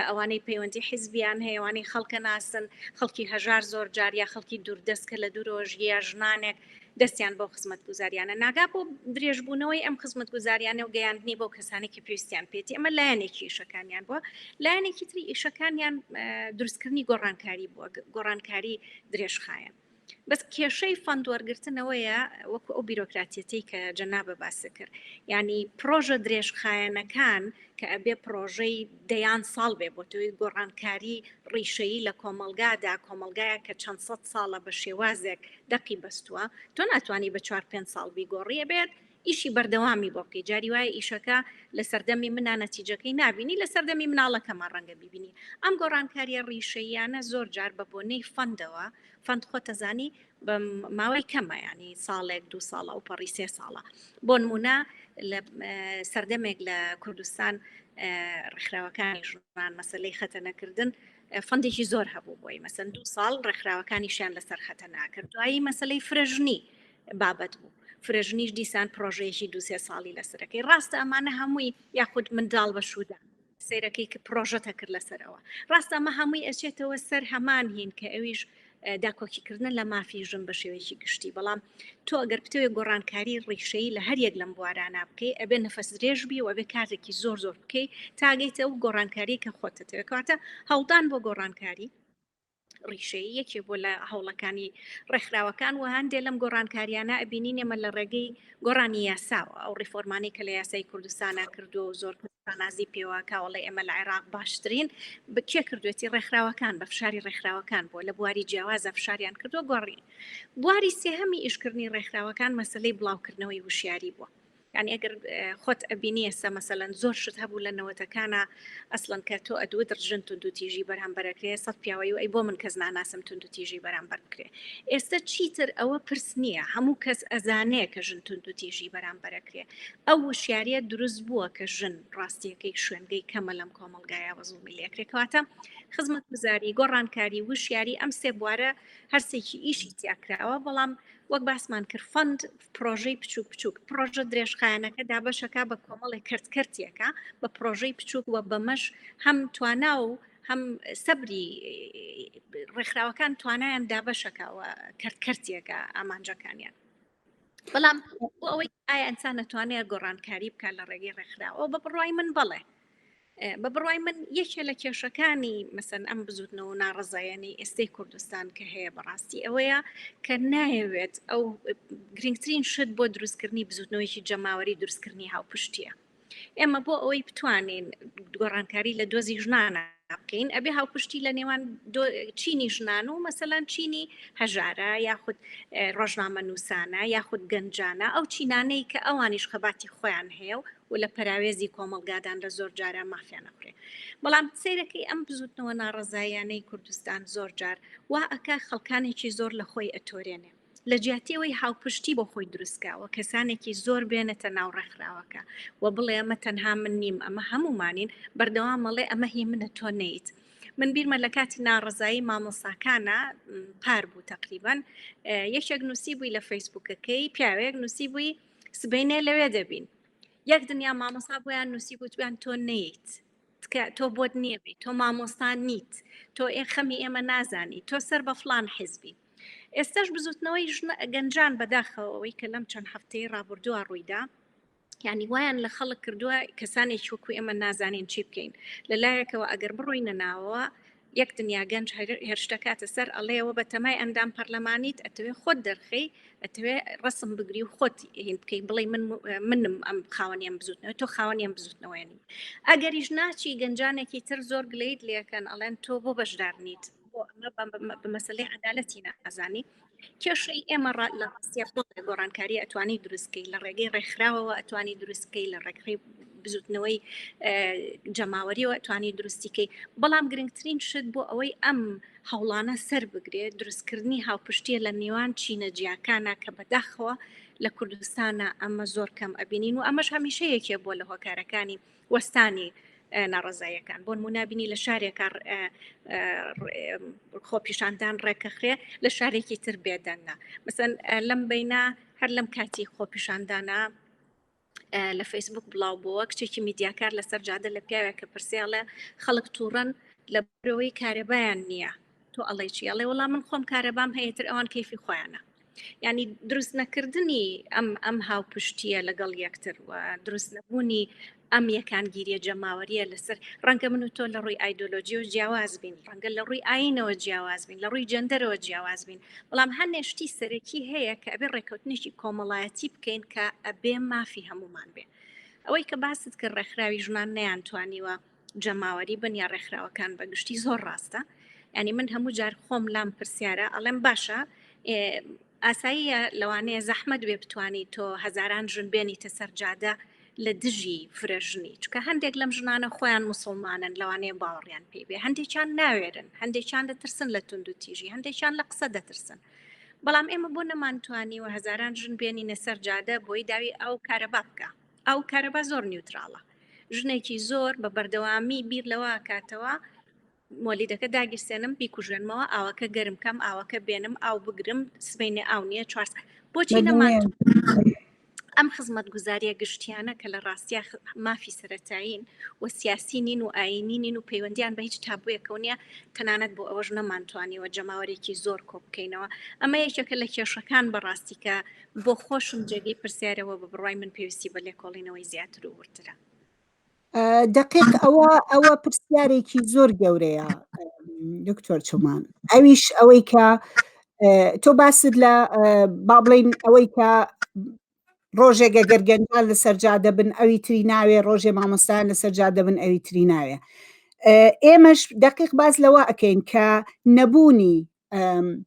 ئەوانەی پەیوەندی حیزبیان هەیەوانی خەڵکە ناسن خەڵکی هەژار زۆر جاریا خەڵکی دووردەست کە لە دوورۆژیە ژنانێک دەستیان بۆ خزمەت گوزاریانە ناگا بۆ درێژبوونەوەی ئەم خزمەت گوزاریانە و گەیاندنی بۆ کەسانێکی پێویستیان پێێتی ئەمە لایەنێکی ئیشەکانیان بووە لایەنێکی تری ئیشەکانیان دروستکردنی گۆڕانکاری بووە گۆڕانکاری درێژخایەن بەس کێشەی فەند وەرگرتنەوەیە وەکو ئەو بیرۆکراتیەتەی کە جەنابە باسی کرد ینی پرۆژە درێژخایەنەکان کە ئەبێ پرۆژەی دەیان ساڵ بێ بۆ تۆی گۆڕانکاری ڕیشەیی لە کۆمەلگادا کۆمەلگایە کە چەند سەد ساڵە بە شێوازێک دەقی بەستووە تۆ ناتوانانی بە چوار پێ ساڵ بیگۆڕیە بێت ئیشی بەردەوامی بۆ بکەی جاری وایە ئیشەکە لە سەردەمی منە نەتیجەکەی نبینی لە سەردەمی مناڵەکەمان ڕەنگە ببینی ئەم گۆڕانکاریە ڕیشەیانە زۆر جار بە بۆنەی فەندەوە فەند خۆتەزانی بە ماوەی کەمە ینی ساڵێک دو ساڵە و پەڕی سێ ساڵە بۆ نمونە لە سەردەمێک لە کوردستان ڕێکخراوەکانی ژوان مەسلەی خەتە نەکردن فەندێکی زۆر هەبوو بۆی مەسەن دو ساڵ ڕێکخراوەکانی شیان لەسەر خەتە ناکرد دوایی مەسلەی فرەژنی بابەت بوو فرەژنیش دیسان پرۆژەیەکی دوسێ ساڵی لەسەرەکەی ڕاستە ئەمانە هەمووی یاخود منداڵ بە شوودان سەیرەکەی کە پرۆژەت هەکرد لەسەرەوە ڕاستە ئەمە هەمووی ئەچێتەوە سەر هەمان هین کە ئەویش داکۆکیکردن لە مافی ژن بە شێوەیەکی گشتی بەڵام تۆ ئەگەر پتەوێ گۆڕانکاری ڕیشەی لە هەریەک لەم بوارانە بکەی ئەبێ نەفەس درێژ بی و ئەبێ کارێکی زۆر زۆر بکەی تاگەیت ئەو گۆڕانکاری کە خۆتەتەوێت کاتە هەڵدان بۆ گۆڕانکاری ڕیشەیی یەکێ بۆ لە هەوڵەکانی ڕێکخراوەکان و هەندێک لەم گۆڕانکاریانە ئەبینین ئێمە لە ڕێگەی گۆڕانی یاساوە ئەو ڕیفۆرمانی کە لە یاسای کوردستانە کردو و زۆر شانازی پێوە کاوەڵی ئێمە لە عێراق باشترین بکێ کردوێتی ڕێکخراوەکان بە فشاری ڕێکخراوەکان بۆ لە بواری جیاوازە فشاریان کردو گۆڕی بواری سێهەمی ئیشکردنی ڕێکخراوەکان مەسلەی بڵاوکردنەوەی وشیاری بووە یانی ئەگەر خۆت ئەبینیەسە مەسەلەن زۆر شت هەبوو لە نەوەتەکانە ئەسڵەن کە تۆ ئەدوت ڕژن تونند و تیژی بەرامبەرەکرێ سەد پیاوەی و ئەی بۆ من کەس ناناسم تونند و تیژی بەرامبەر بکرێ ئێستا چیتر ئەوە پرس نییە هەموو کەس ئەزانەیە کە ژن تونند و تیژی بەرامبەرەکرێ ئەو وشیاریە دروست بووە کە ژن ڕاستیەکەی شوێنگەی کەمە لەم کۆمەلگایە بە زوڵمی لەکرێکواتە خزمەت بزاری گۆڕانکاری وشیاری ئەم سێ بوارە هەرسێکی ئیشی تیاکراوە بەڵام وەک باسمان کرد فند پرۆژەی بچووک بچووک پرۆژە درێژخایەنەکە دابەشەکە بە کۆمەڵی کەرت کەرتیەکە بە پرۆژەی بچووک وە بەمەش هەم توانا و هەم سەبری ڕێکخراوەکان توانایان دابەشەکەەوە کەرت کەرتیەکە ئامانجەکانیان بەڵام بۆ ئەوەی ئایا ئەسان نەتوانێت گۆڕانکاری بکات لە ڕێگەی ڕێکخراوە بە بڕای من بڵێ بە بڕوای من یەکێ لە کێشەکانی مەسەن ئەم بزوتنەوە ناڕزایەنەی ئێستەی کوردستان کە هەیە بەڕاستی ئەوەیە کە نایەوێت ئەو گرنگترین شت بۆ دروستکردنی بزوتنەوەیکی جەماوەری دروستکردنی هاوپشتیە ئێمە بۆ ئەوەی بتوانین گۆڕانکاری لە دۆزی ژنانە بکەین ئەبێ هاوپشتی لە نێوان چینی ژنان و مەسەلان چینی هەژارە یاخود ڕۆژنامە نووسانە یاخود گەنجانە ئەو چینانەی کە ئەوانیش خەباتی خۆیان هەیە و و لە پەراوێزی کۆمەڵگادان لە زۆر جارە مافیان نەخورێ بەڵام سیرەکەی ئەم بزوتنەوە ناڕزایانەی کوردستان زۆر جار وا ئەکا خەڵکانێکی زۆر لە خۆی ئەتۆرێنێ لە جیاتی ئەوەی هاوپشتی بۆ خۆی دروست کا و کەسانێکی زۆر بێنێتە ناو ڕێکخراوەکە و بڵێ ئەمە تەنها من نیم ئەمە هەموومانین بەردەوام مەڵێ ئەمە هی منە تۆ نیت من بیرمە لە کاتی ناڕزایی مامۆساکانە پار بوو تقریبان یەکێک نووسی بووی لە فەیسبوکەکەی پیاوێک نووسی بووی سبینێ لەوێ دەبین یەک دنیا مامۆسا بۆیان نووسی گوتویان تۆ نیت تکە تۆ بۆت نییە بی تۆ مامۆستا نیت تۆ ئێ خەمی ئێمە نازانی تۆ سەر بە فلان حیزبی ئێستاش بزوتنەوەی ژنە گەنجان بەداخەوەی کە لەم چەند هەفتەی ڕابردووە ڕوویدا ینی وایان لە خەڵک کردووە کەسانێک وەکو ئێمە نازانین چی بکەین لە لایەکەوە ئەگەر بڕۆینە ناوەوە یەک دنیا گەنج هێرشدەکاتە سەر ئەڵێ ئەوە بە تەمای ئەندام پەرلەمانیت ئەتەوێ خۆت دەرخەی ئەتەوێ ڕسم بگری و خۆت هین بکەی بڵێ من منم ئەم خاوەنیم بزوتنەوە تۆ خاوەنیم بزوتنەوەێنی ئەگەریش ناچی گەنجانێکی تر زۆر گلیت لەکەن ئەڵێن تۆ بۆ بەشدار نیت بۆ ئەمە بە مەسلەی عدالەتی نازانی کێشەی ئێمە ڕا لە ڕاستیە خۆ گۆڕانکاری ئەتوانی دروستکەی لە ڕێگەی ڕێکخراوەوە ئەتوانی دروستکەی لە ڕێکخی بزوتنەوەی جەماوەریەوە توانی دروستیکەی بەڵام گرنگترین شت بۆ ئەوەی ئەم هەوڵانە سەر بگرێت دروستکردنی هاوپشتیە لە نێوان چینە جیاکانە کە بەداخەوە لە کوردستانە ئەمە زۆر کەم ئەبینین و ئەمەش هەمیشەیەکێ بۆ لە هۆکارەکانی وەستانی ناڕەزاییەکان بۆنمونا بینی لە شارێکە خۆپیشاندان ڕێکەخرێ لە شارێکی تر بێدەنگە مەسەن لەم بینە هەر لەم کاتی خۆپیشاندانە لە فەیسبوک بڵاو بووە کچێکی میدیاکار لەسەر جادە لە پیاوێک کە پرسیاڵە خەڵک تووڕەن لە برەوەی کارەبایان نییە تۆ ئەڵێ چی ئەڵێ وڵام من خۆم کارەبام هەیە تر ئەوان کەیفی خۆیانە ینی دروست نەکردنی ئەم ئەم هاوپشتیە لەگەڵ یەکتر و دروست نەبوونی ئەم یەکانگیریە جەماوەریە لەسەر ڕەنگە من و تۆ لە ڕووی ئایدۆلۆژی و جیاواز بین ڕەنگە لە ڕووی ئاینەوە جیاواز بین لە ڕووی جەندەرەوە جیاواز بین بەڵام هەنێشتی سەرەکی هەیە کە ئەبێ ڕێککەوتنیشی کۆمەڵایەتی بکەین کە ئەبێ مافی هەمومان بێ ئەوەی کە باست کرد ڕێکخراوی ژنان نیان توانیوە جەماوەری بن یا ڕێکخراوەکان بە گشتی زۆر ڕاستە ینی من هەموو جار خۆم لام پرسیارە ئەڵێم باشە ئاساییە لەوانەیە زەحمەت وێ بتانی تۆ هەزاران ژن بێنیتە سەرجادە لە دژی فرەژنی چکە هەندێک لەم ژنانە خۆیان مسلمانن لەوانەیە باوەڕیان پێی بێ هەندێکیان ناوێرن هەندێکیان دەترسن لە تونند و تیژی هەندێکیان لە قسە دەترسن بەڵام ئێمە بۆ نەمانتوانی و هەزاران ژن بێنینە سەرجادە بۆی داوی ئەو کارە بابکە ئەو کارەبا زۆر نیوتراڵە ژنێکی زۆر بە بەردەوامی بیر لەوە کاتەوە مۆلیدەکە داگیرسێنم بیکوژێنمەوە ئاوەکە گەرم کەم ئاوەکە بێنم ئاو بگرم سبینێ ئاو نیە چوار بۆچی نەمان ئەم خزمەت گوزاریە گشتیانە کە لە ڕاستیا مافی سەتایین و سیاسی نین و ئاینی نین و پەیوەندیان بە هیچ تابوویەکەو نیە تەنانەت بۆ ئەوەش نەمانتوانیوە جەماوەرێکی زۆر کۆبکەینەوە ئەمە یەکێکە لە کێشەکان بەڕاستی کە بۆ خۆشم جێگەی پرسیارەوە بە بڕای من پێویستی بە لێکۆڵینەوەی زیاتر و وردرە دقیق ئەوە ئەوە پرسیارێکی زۆر گەورەیە دکتۆر چومان ئەویش ئەوەی کە تۆ باست لە با بڵین ئەوەی کە ڕۆژێکە گەرگەنجان لە سەرجا دەبن ئەوی تری ناوێ ڕۆژێ مامۆستان لە سەرجا دەبن ئەوی تری ناوێ ئێمەش دقیق باز لەوە ئەکەین کە نەبوونی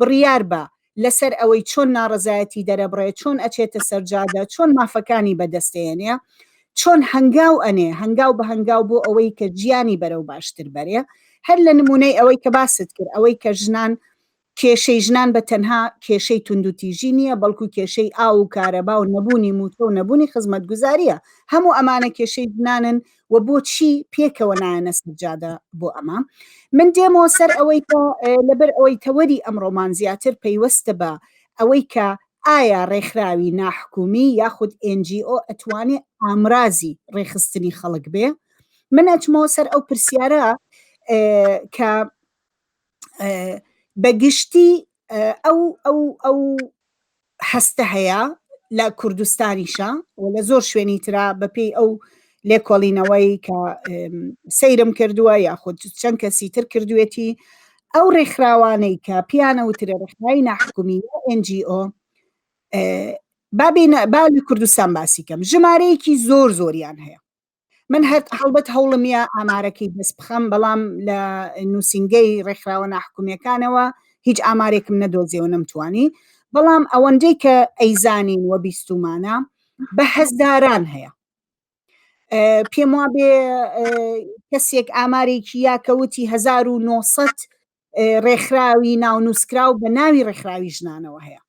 بڕیار با لەسەر ئەوەی چۆن ناڕەزایەتی دەرەبڕێ، چۆن ئەچێتە سەر جادە، چۆن مافەکانی بەدەستێنێ، چۆن هەنگاو ئەنێ، هەنگاو بە هەنگاو بۆ ئەوەی کە ژیانی بەرەو باشتر بەرێ. هەر لە نموونەی ئەوەی کە باست کرد، ئەوەی کە ژنان، کێشەی ژنان بە تەنها کێشەی توندوتیژی نییە، بەڵکو کێشەی ئاو و کارەبا و نەبوونی مووچە و نەبوونی خزمەتگوزارییە. هەموو ئەمانە کێشەی ژنانن و بۆچی پێکەوە نایەنە سەرجادە بۆ ئەمە من دێمەوە سەر ئەوەی کە لەبەر ئەوەی تەوەری ئەمڕۆمان زیاتر پەیوەستە بە ئەوەی کە ئایا ڕێکخراوی ناحکومی یاخود NGO ئەتوانێ ئامرازی ڕێخستنی خەڵک بێ من ئەچمەوە سەر ئەو پرسیارە کە بە گشتی ئەو ئەو ئەو هەستە هەیە لە کوردستانیشە و لە زۆر شوێنی ترا بەپێی ئەو لێکۆڵینەوەی کە سەیرم کردووە یاخود چەند کەسی تر کردوێتی ئەو ڕێکخراوانەی کە پیانە وترە ڕخنای ناحکومی NGO بابینە با لە کوردستان باسی کەم ژمارەیەکی زۆر زۆریان هەیە من هەر هەڵبەت هەوڵم یا ئامارەکەی دەست بخەم بەڵام لە نووسنگەی ڕێکخراوە ناحکومیەکانەوە هیچ ئامارێکم نەدۆزیەوە نەمتوانی بەڵام ئەوەندەی کە ئەیزانین وە بیستمانە بە هەزداران هەیە پێم وا بێ کەسێک ئامارێکی یاکەوتی 1900 ڕێکخراوی ناونووسکراو بە ناوی ڕێکخراوی ژنانەوە هەیە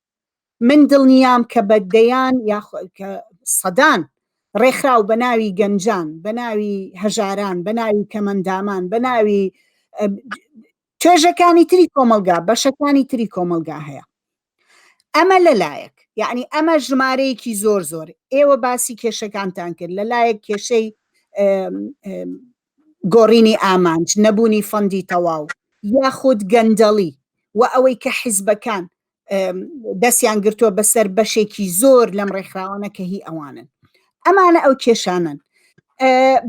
من دڵنیام کە بە دەیان یا سەدان ڕێکخراو بە ناوی گەنجان بە ناوی هەژاران بە ناوی کەمەندامان بە ناوی توێژەکانی تری کۆمەلگا بەشەکانی تری کۆمەلگا هەیە ئەمە لەلایەک یعنی ئەمە ژمارەیەکی زۆر زۆر ئێوە باسی کێشەکانتان کرد لەلایەک کێشەی گۆڕینی ئامانج نەبوونی فەندی تەواو یاخود گەندەڵی و ئەوەی کە حیزبەکان دەستیان گرتووە بەسەر بەشێکی زۆر لەم ڕێکخراوانە کە هی ئەوانن ئەمانە ئەو کێشانن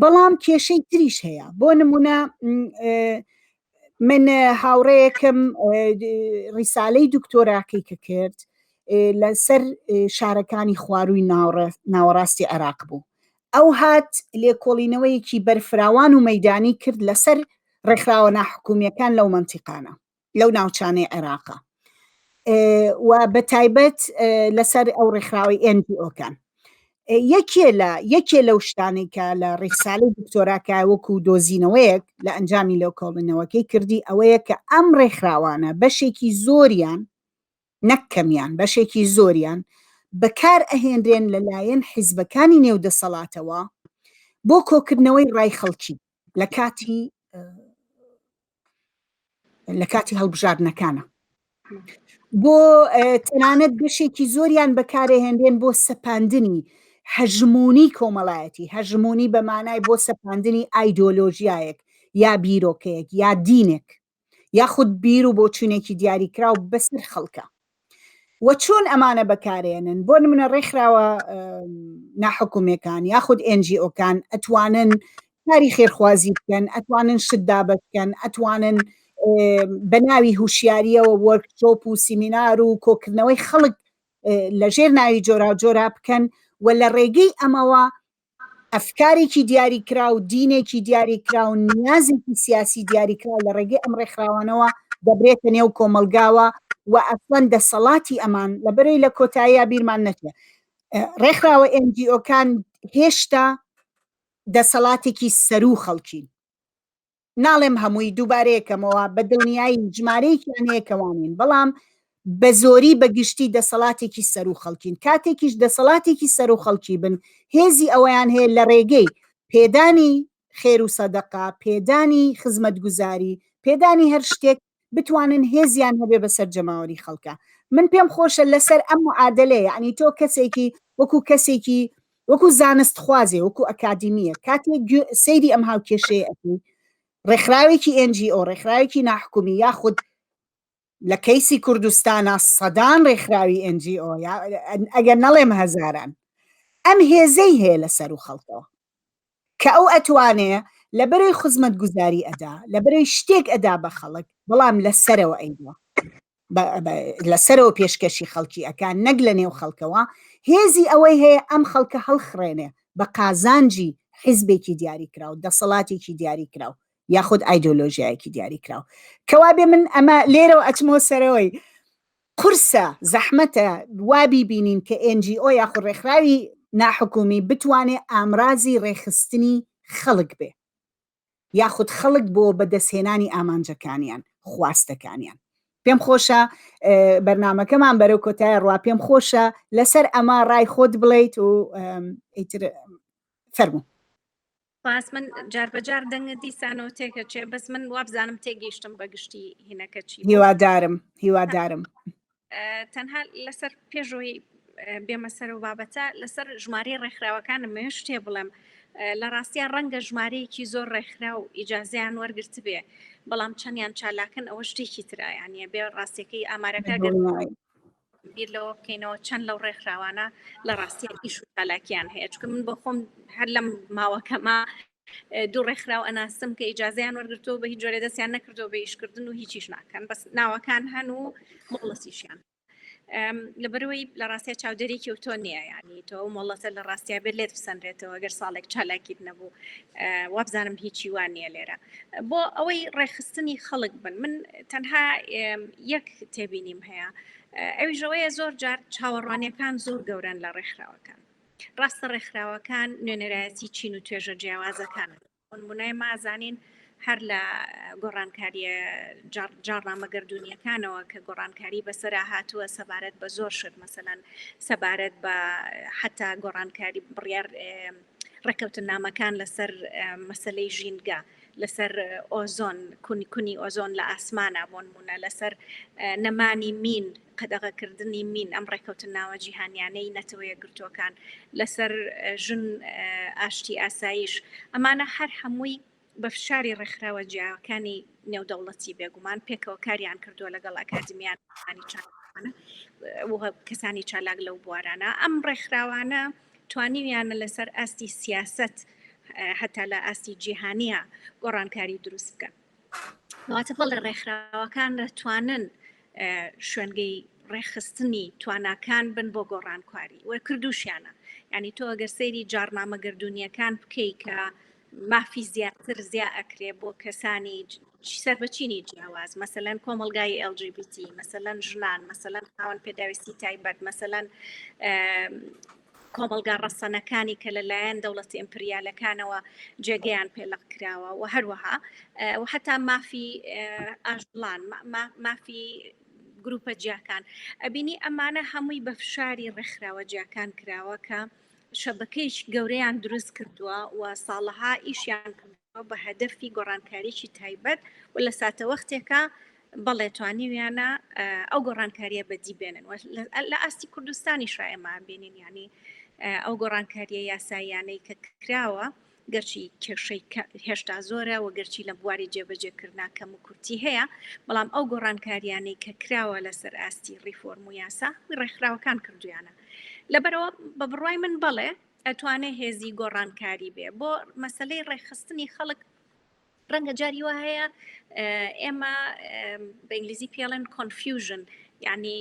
بەڵام کێشەی تریش هەیە بۆ نمونە من هاوڕەیەکم ڕیسالەی دکتۆراکەی کە کرد لەسەر شارەکانی خوارووی ناوەڕاستی عێراق بوو ئەو هات لێکۆڵینەوەیەکی بەرفراوان و مەدانی کرد لەسەر ڕێکخراوە ناحکومیەکان لەو منتیقانە لەو ناوچانەی عێراقە و بە تایبەت لەسەر ئەو ڕێکخراوی NGO-کان یەکێ لە یەکێ لەو شتانەی کە لە ڕیسالی دکتۆراکە وەکو دۆزینەوەیەک لە ئەنجامی لەو کۆڵنەوەکەی کردی ئەوەیە کە ئەم ڕێکخراوانە بەشێکی زۆریان نەک کەمیان بەشێکی زۆریان بەکار ئەهێنرێن لەلایەن حیزبەکانی نێو دەسەڵاتەوە بۆ کۆکردنەوەی ڕای خەڵکی لە کاتی لە کاتی هەڵبژاردنەکانە بۆ تەنانەت بەشێکی زۆریان بەکارەهێنرێن بۆ سەپاندنی هەژمونی کۆمەڵایەتی هەژمونی بەمانای بۆ سەپاندنی ئایدۆلۆژیایەک یا بیرۆکەیەک یا دینێک یاخود بیر و بۆچوونێکی دیاریکراو بەسەر خەڵکە و چۆن ئەمانە بەکارێنن بۆ نمونە ڕێکخراوە ناحکومەکان یاخود NGOکان ئەتوانن کاری خێرخوازی بکەن ئەتوانن شت دابەتکەن ئەتوانن بە ناوی هوشیاریەوە وەرکشۆپ و سیمینار و کۆکردنەوەی خەڵک لەژێر ناوی جۆرا جۆرا بکەن و لە ڕێگەی ئەمەوە ئەفکارێکی دیاریکراو، دینێکی دیاریکراو، نیازێکی سیاسی دیاریکراو لە ڕێگەی ئەم ڕێکخراوانەوە دەبرێتە نێو کۆمەڵگاوە و ئەسڵەن دەسەڵاتی ئەمان لەبەرەی لە کۆتاییا بیرمان نەچێ ڕێکخراوە NGO کان هێشتا دەسەڵاتێکی سەروو خەڵکین. ناڵێم هەمووی دووبارەیەکەمەوە بە دڵنیایی ژمارەیەکیان هەیە کە وانین بەڵام بە زۆری بە گشتی دەسەڵاتێکی سەر و خەڵکین کاتێکیش دەسەڵاتێکی سەر و خەڵکی بن هێزی ئەویان هەیە لە ڕێگەی پێدانی خێر و سەدەقا پێدانی خزمەتگوزاری پێدانی هەر شتێک بتوانن هێزیان هەبێ بەسەر جەماوەری خەڵکە من پێم خۆشە لەسەر ئەم معادلێ ینی تۆ کەسێکی وەکو کەسێکی وەکو زانست خوازێ وەکو ئەکادیمیە کاتێ سەیری ئەم هاوکێشەیە ئەکەی ڕێکخراوێکی ئەنجی ئەو ڕێکخراوێکی ناحکومی یاخود لە کەیسی کوردستانە سەدان ڕێکخراوی ئەنجی ئۆ ئەگەر نەڵێم هەزاران ئەم هێزەی هەیە لە سەر و خەڵکەوە کە ئەو ئەتوانێ لە بەرەی خوزمەتگوزاری ئەدا لە بەرەی شتێک ئەدا بە خەڵک بەڵام لە سەرەوە ئەیدوە لە سەرەوە پێشکەشی خەڵکی ئەکا نەک لە نێو خەڵکەوە هێزی ئەوەی هەیە ئەم خەڵکە هەڵخڕێنێ بە قازانجی حیزبێکی دیاری کراو دەسەڵاتێکی دیاری کراو یاخود ئایدۆلۆژیایەکی دیاری کراو کەوابێ من ئەمە لێرەوە ئەچمەوە سەرەوەی قورسە، زەحمەتە وا بیبینین کە NGO یاخود ڕێکخراوی ناحکومی بتوانێ ئامرازی ڕێکخستنی خەڵک بێ یاخود خەڵک بۆ بەدەستهێنانی ئامانجەکانیان، خواستەکانیان. پێم خۆشە بەرنامەکەمان بەرەو کۆتایە ڕوا پێم خۆشە لەسەر ئەمە ڕای خۆت بڵێیت و ئیتر فەرموو. سپاس من جار بە جار دەنگە دیسانەوە تێکەچێ بەس من وابزانم تێگەیشتم بە گشتی هینەکە چی هیوادارم هیوادارم تەنها لەسەر پێشەوەی بێمە سەر و بابەتە لەسەر ژماری ڕێکخراوەکانم مێ شتێ بڵێم لە ڕاستیان ڕەنگە ژمارەیەکی زۆر ڕێکخرا و ئیجازیان وەرگرت بێ بەڵام چەندیان چالاکن ئەوە شتێکی ترایانە بێ ڕاستەکەی ئامارەکە بیر لەوە بکەینەوە چەند لەو ڕێکخراوانە لە ڕاستیان ئیش و چالاکیان هەیە چکە من بۆ خۆم هەر لەم ماوەکەما دوو ڕێکخراو ئەناسم کە ئیجازیان وەرگرتەوە بە هیچ جۆرە دەستیان نەکردەوە بە ئیشکردن و هیچیش ناکەن بەس ناوەکان هەن و مۆڵەسیشیان لەبەرەوەی لە ڕاستە چاودێرێکی و تۆ نییە ینی تۆ مۆڵەتە لە ڕاستیا بێت لێت بسەنرێتەوە گەر ساڵێک چالاکیت نەبوو وابزانم هیچی وان نییە لێرە بۆ ئەوەی ڕێخستنی خەڵک بن من تەنها یەک تێبینیم هەیە ئەویژەوەیە زۆر جار چاوەڕوانەکان زۆر گەورن لە ڕێکخراوەکان ڕاستە ڕێکخراوەکان نوێنەرایەتی چین و توێژە جیاوازەکان بنای مازانین هەر لە گۆڕانکاریە جاڕامە گردردونیەکانەوە کە گۆڕانکاری بەسرا هاتووە سەبارەت بە زۆر شت مەسەەن سەبارەت بە حتا گۆڕانکاری بڕیار ڕێککەوتنامەکان لەسەر مەسلەی ژینگە لەسەر ئۆزۆن کونی کونی ئۆزۆن لە ئاسمانە بۆنمونە لەسەر نەمانی مین قەدەغەکردنی مین ئەم ڕێککەوتن ناوە جیهانیانەی نەتەوەیە گرتوەکان لەسەر ژن ئاشتی ئاسایش ئەمانە هەر هەمووی بە فشاری ڕێکخراوە جیاکانی نێودەوڵەتی بێگومان پێکەوە کاریان کردووە لەگەڵ ئەکادمیانانی چاپ کەسانی چالاک لەو بوارانە ئەم ڕێکخراوانە توانیویانە لەسەر ئاستی سیاست هەتا لە ئاستی جیهانیە گۆڕانکاری دروست بکە واتە بەڵ لە ڕێکخراوەکان دەتوانن شوێنگەی ڕێخستنی تواناکان بن بۆ گۆڕانکاری وە کردوشیانە ینی تۆ ئەگەر سەیری جارنامە گردردونیەکان بکەی کە مافی زیاتر زیا ئەکرێ بۆ کەسانی سەر بە چینی جیاواز مەسەەن کۆمەلگای LGBT مەسەەن ژنان مەسەەن خاوەن پێداویستی تایبەت مەسەەن کۆمەلگا ڕەسەنەکانی کە لەلایەن دەوڵەتی ئەمپریالەکانەوە جێگەیان پێلق کراوە و هەروەها و هەتا مافی ئاژلان مافی گروپە جیاکان ئەبینی ئەمانە هەمووی بە فشاری ڕێکخراوە جیاکان کراوە کە شەبەکەیەکی گەورەیان دروست کردووە و ساڵەها ئیشیان کردووە بە هەدەفی گۆڕانکاریی تایبەت و لە ساتەوەختێکە بەڵێ توانیویانە ئەو گۆڕانکاریە بەدی بێنن لە ئاستی کوردستانی شایەمان بینین ینی ئەو گۆڕانکاریە یاساییانەی کە کراوە گەرچی کێشەی کە هێشتا زۆرە و گەرچی لە بواری جێبەجێکردنا کەم و کورتی هەیە، بەڵام ئەو گۆڕانکارییانەی کە کراوە لە سەر ئاستی ڕیفۆرم و یاسا و ڕێکخراوەکان کردوویانە. لەبەرئەوە بە بڕوای من بەڵێ ئەتوانێ هێزی گۆڕانکاری بێ بۆ مەسەلەی ڕێکخستنی خەڵک ڕەنگە جاری وا هەیە ئێمە بە ئینگلیزی پێڵێن کۆنفیوژن یعنی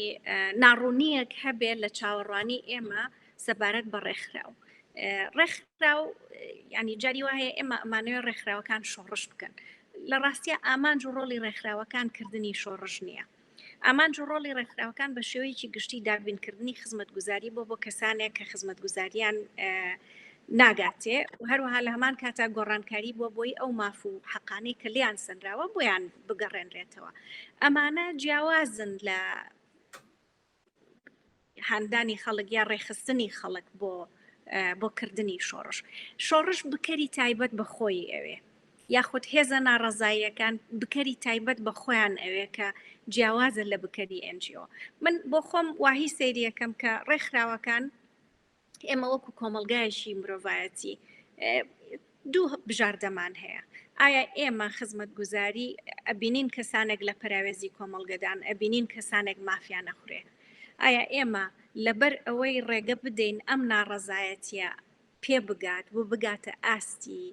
ناڕوونیەک هەبێ لە چاوەڕوانی ئێمە سەبارەت بە ڕێکخراو ڕێکخراو ینی جاری وا هەیە ئێمە ئەمانەوە ڕێکخراوەکان شۆڕش بکەن لە ڕاستە ئامانج و ڕۆڵی ڕێکخراوەکان کردنی شۆڕژ نییە ئامانج و ڕۆڵی ڕێکخراوەکان بە شێوەیەکی گشتی دابینکردنی خزمەتگوزاری بۆ بۆ کەسانێک کە خزمەتگوزاریان ناگاتێ و هەروەها لە هەمان کاتا گۆڕانکاری بۆ بۆی ئەو ماف و حەقانەی کە لیان سنراوە بۆیان بگەڕێنرێتەوە ئەمانە جیاوازن لە هاندانی خەڵک یا ڕێخستنی خەڵک بۆ بۆ کردنی شۆڕش شۆڕش بکەری تایبەت بە خۆی ئەوێ یاخود هێزە ناڕەزاییەکان بکەری تایبەت بە خۆیان ئەوێ کە جیاوازە لە بکەری ئەنجیۆ من بۆ خۆم واهی سریەکەم کە ڕێکخراوەکان ئێمە وەکو کۆمەلگایشی مرۆڤایەتی دوو بژاردەمان هەیە ئایا ئێمە خزمەت گوزاری ئەبینین کەسانێک لە پەراوێزی کۆمەلگەدان ئەبینین کەسانێک مافیا نەخورێ ئایا ئێمە لەبەر ئەوەی ڕێگە بدەین ئەم ناڕەزایەتە پێ بگات و بگاتە ئاستی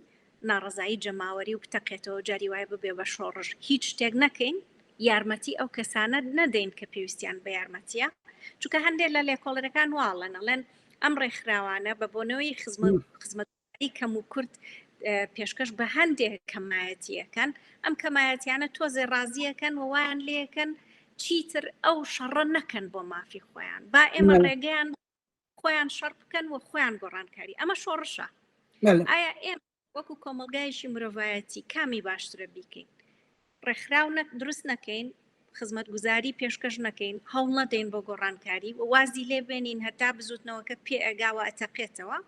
ناڕەزایی جەماوەری و بتەقێتەوەو جاری وایە ببێ بە شۆڕش هیچ شتێک نەکەین یارمەتی ئەو کەسانە نەدەین کە پێویستیان بە یارمەتیە چونکە هەندێک لە لێکۆڵەرەکان واڵن ئەڵێن ئەم ڕێکخراوانە بە بۆنەوەی خزمەت خزمەتگوزاری کەم و کورت پێشکەش بە هەندێک کەمایەتیەکەن ئەم کەمایەتیانە تۆزێ ڕازیەکەن و وایان لێکەن چیتر ئەو شەڕە نەکەن بۆ مافی خۆیان با ئێمە ڕێگەیان خۆیان شەڕ بکەن و خۆیان گۆڕانکاری ئەمە شۆڕشە ئایا ئێم وەکو کۆمەلگایشی مرۆڤایەتی کامی باشترە بیکەین ڕێکخراو دروست نەکەین خزمەت گوزاری پێشکەش نەکەین هەوڵ نەدەین بۆ گۆڕانکاری و وازی لێ بێنین هەتا بزوتنەوەکە پێ ئەگاوە ئەتەقێتەوە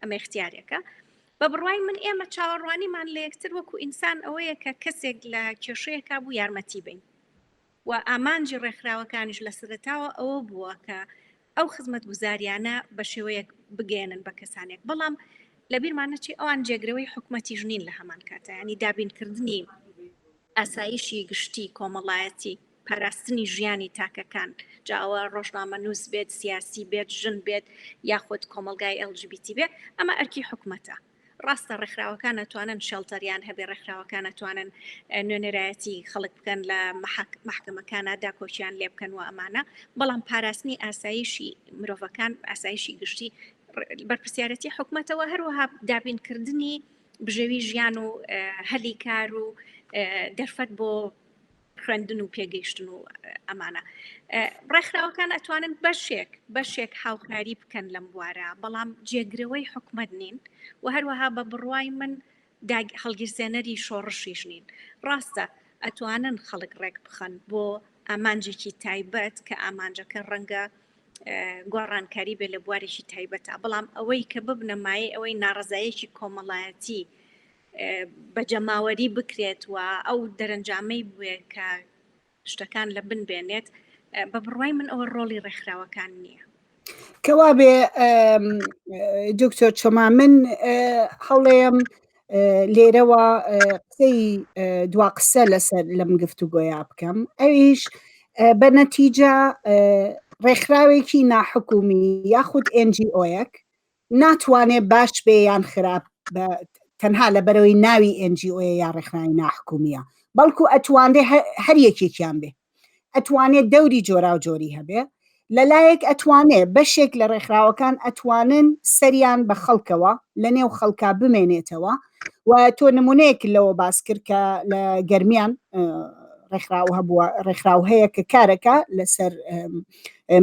ئەمە اختیارێکە بە بڕوای من ئێمە چاوەڕوانیمان لە یەکتر وەکو ئینسان ئەوەیە کە کەسێک لە کێشەیەکە بوو یارمەتی بین و ئامانجی ڕێکخراوەکانیش لە سەرەتاوە ئەوە بووە کە ئەو خزمەتگوزاریانە بە شێوەیەک بگەیەنن بە کەسانێک بەڵام لە بیرمان نەچی ئەوان جێگرەوەی حکومەتیش نین لە هەمان کاتە ینی دابینکردنی ئاسایشی گشتی کۆمەڵایەتی پاراستنی ژیانی تاکەکان جاوە ڕۆژنامە نووس بێت سیاسی بێت ژن بێت یاخود کۆمەلگای LGBTB ئەمە ئەرکی حکومەتە ڕاستە ڕێکخراوەکان ئەتوانن شێڵتەریان هەبێ ڕێکخراوەکان ئەتوانن نوێنەرایەتی خەڵک بکەن لە محکمەکانە داکۆکیان لێ بکەن و ئەمانە بەڵام پاراستنی ئاسایشی مرۆڤەکان ئاسایشی گشتی بەرپسیارەتی حکوومەتەوە هەروەها دابینکردنی بژێوی ژیان و هەلی کار و دەرفەت بۆ خوێندن و پێگەیشتن و ئەمانە ڕێکخراوەکان ئەتوانن بەشێک بەشێک هاوکاری بکەن لەم بوارە بەڵام جێگرەوەی حکومت نین و هەروەها بە بڕوای من هەڵگیرسێنەری شۆڕشیش نین ڕاستە ئەتوانن خەڵک ڕێک بخەن بۆ ئامانجێکی تایبەت کە ئامانجەکە ڕەنگە گۆڕانکاری بێ لە بوارێکی تایبەتە بەڵام ئەوەی کە ببنەمایە ئەوەی ناڕزایەکی کۆمەڵایەتی بە جەماوەری بکرێت و ئەو دەرەنجامەی بوێ کە شتەکان لە بن بێنێت بە بڕوای من ئەوە ڕۆڵی ڕێکخراوەکان نییە کەوا بێ دکتۆر چۆما من هەڵێم لێرەوە قسەی دوا قسە لەسەر لەم گفتوگۆیا بکەم ئەویش بە نەتیجە ڕێکخراوێکی ناحکومی یاخود NGۆیەک ناتوانێ باش بێ یان خراپ بە تەنها لە بەرەوەی ناوی NGO یا ڕێکخراوی ناحکومیە بەڵکو ئەتوانێ هەر یەکێکیان بێ ئەتوانێ دەوری جۆرا و جۆری هەبێ لەلایەک ئەتوانێ بەشێک لە ڕێکخراوەکان ئەتوانن سەریان بە خەڵکەوە لە نێو خەڵکا بمێنێتەوە و تۆ نمونەیەک لەوە باس کرد کە لە گەرمیان ڕێکخراو هەبووە ڕێکخراو هەیە کە کارەکە لەسەر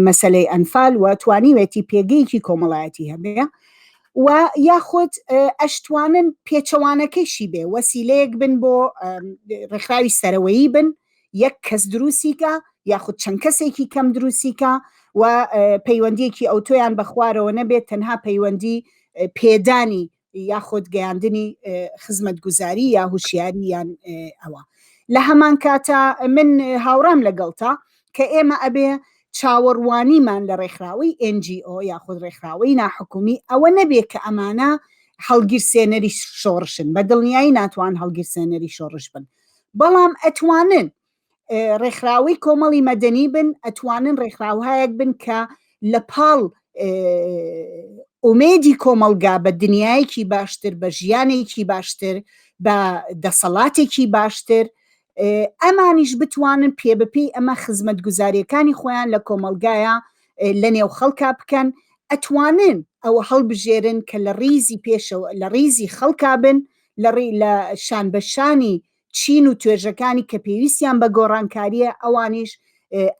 مەسلەی ئەنفال و توانیوێتی پێگەیەکی کۆمەڵایەتی هەبێ و یاخود ئەشتوانن پێچەوانەکەیشی بێ وەسیلەیەک بن بۆ ڕێکخراوی سەرەوەیی بن یەک کەس دروستیکە یاخود چەند کەسێکی کەم دروستیکە و پەیوەندیەکی ئەوتۆیان بە خوارەوە نەبێت تەنها پەیوەندی پێدانی یاخود گەیاندنی خزمەتگوزاری یا هوشیاری یان ئەوە لە هەمان کاتە من هاوڕام لەگەڵتا کە ئێمە ئەبێ چاوەڕوانیمان لە ڕێکخراوەی NGO یاخود ڕێکخراوەی ناحکومی ئەوە نەبێ کە ئەمانە هەڵگیرسێنەری شۆڕشن بە دڵنیایی ناتوان هەڵگیرسێنەری شۆڕش بن بەڵام ئەتوانن ڕێکخراوەی کۆمەڵی مەدەنی بن ئەتوانن ڕێکخراوهایەک بن کە لە پاڵ ئومێدی کۆمەلگا بە دنیایەکی باشتر بە ژیانێکی باشتر بە دەسەڵاتێکی باشتر ئەمانیش بتوانن پێ بپی ئەمە خزمەت گوزاریەکانی خۆیان لە کۆمەلگایە لە نێو خەڵکا بکەن ئەتوانن ئەوە هەڵبژێرن کە لە ڕیزی پێشەوە لە ڕیزی خەڵکا بن لە ڕی لە شان بەشانی چین و توێژەکانی کە پێویستیان بە گۆڕانکارییە ئەوانیش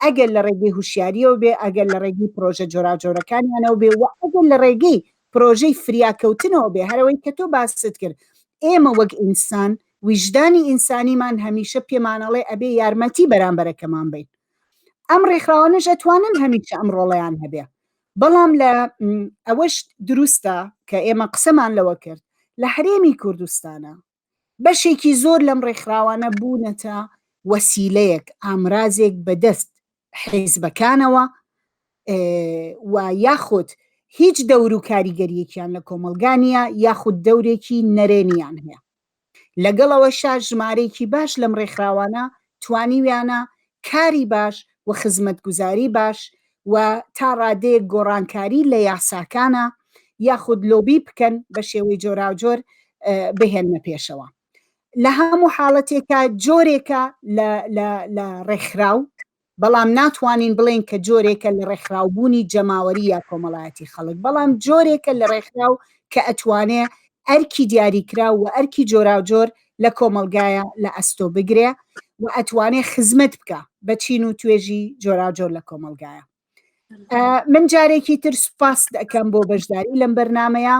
ئەگەر لە ڕێگەی هوشیاریەوە بێ ئەگەر لە ڕێگەی پرۆژە جۆراجۆرەکانیانەوە بێ و ئەگەر لە ڕێگەی پرۆژەی فریاکەوتنەوە بێ هەرەوەی کە تۆ باست کرد ئێمە وەک ئینسان ویژدانی ئینسانیمان هەمیشە پێمانەڵێ ئەبێ یارمەتی بەرامبەرەکەمان بین ئەم ڕێکخراوانەش ئەتوانن هەمیشە ئەم ڕۆڵیان هەبێ بەڵام لە ئەوەش دروستە کە ئێمە قسەمان لەوە کرد لە هەرێمی کوردستانە بەشێکی زۆر لەم ڕێکخراوانە بوونەتە وەسیلەیەک، ئامرازێک بەدەست حیزبەکانەوە و یاخود هیچ دەور و کاریگەریەکیان لە کۆمەلگا نیە یاخود دەورێکی نەرێنیان هەیە لەگەڵەوەشا ژمارەیەکی باش لەم ڕێکخراوانە توانیویانە کاری باش و خزمەتگوزاری باش و تا ڕادەیەک گۆڕانکاری لە یاساکانا یاخود لۆبی بکەن بە شێوەی جۆراوجۆر بهێننە پێشەوە. لە هەموو حاڵەتێکا جۆرێکە لە ڕێکخراو، بەڵام ناتوانین بڵێین کە جۆرێکە لە ڕێکخراوبوونی جەماوەری یا کۆمەڵایەتی خەڵک، بەڵام جۆرێکە لە ڕێکخراو کە ئەتوانێ ئەرکی دیاریکراو و ئەرکی جۆراوجۆر لە کۆمەڵگایە لە ئەستۆ بگرێ و ئەتوانێ خزمەت بکە بە چین و توێژی جۆراجۆر لە کۆمەڵگایە من جارێکی تر سوپاس دەکەم بۆ بەشداری لەم بەرنمەیە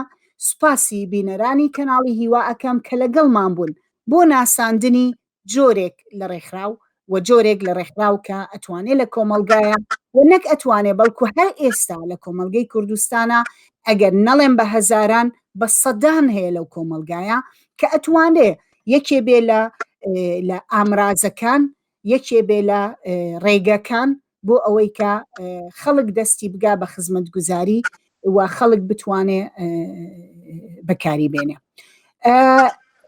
سوپاسی بینەرانی کەناڵی هیوا ئەەکەم کە لەگەڵمان بوون بۆ ناساندنی جۆرێک لە ڕێکخراو و جۆرێک لە ڕێکخراو کە ئەتوانێ لە کۆمەڵگایە و نەک ئەتوانێ بەڵکو هەر ئێستا لە کۆمەڵگەی کوردستانە ئەگەر نەڵێم بە هەزاران بە سەدان هەیە لەو کۆمەڵگایە کە ئەتوانێ یەکێ بێ لە لە ئامرازەکان یەکێ بێ لە ڕێگەکان بۆ ئەوەی کە خەڵک دەستی بگا بە خزمەت گوزاری و خەڵک بتوانێ بەکاری بێنێ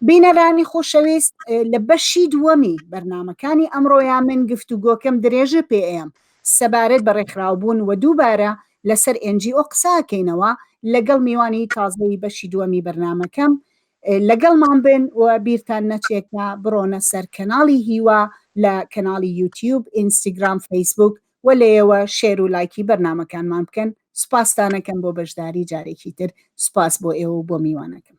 بینەرانی خۆشەویست لە بەشی دووەمی بەرنمەکانی ئەمڕۆیا من گفت و گۆکەم درێژە پێ ئەم سەبارەت بە ڕێکخراوبوون و دووبارە لەسەر ئەنجی ئۆ قساکەینەوە لەگەڵ میوانی تازەی بەشی دووەمی بەرنمەکەم لەگەڵمان بن و بیرتان نەچێت کە بڕۆنە سەر کەناڵی هیوا لە کەناڵی یوتیوب، ئینستگرام، فەیسبووک و لەیەوە شێر و لایکی بەرنامەکانمان بکەن سوپاستانەکەم بۆ بەشداری جارێکی تر سوپاس بۆ ئێوە و بۆ میوانەکەم.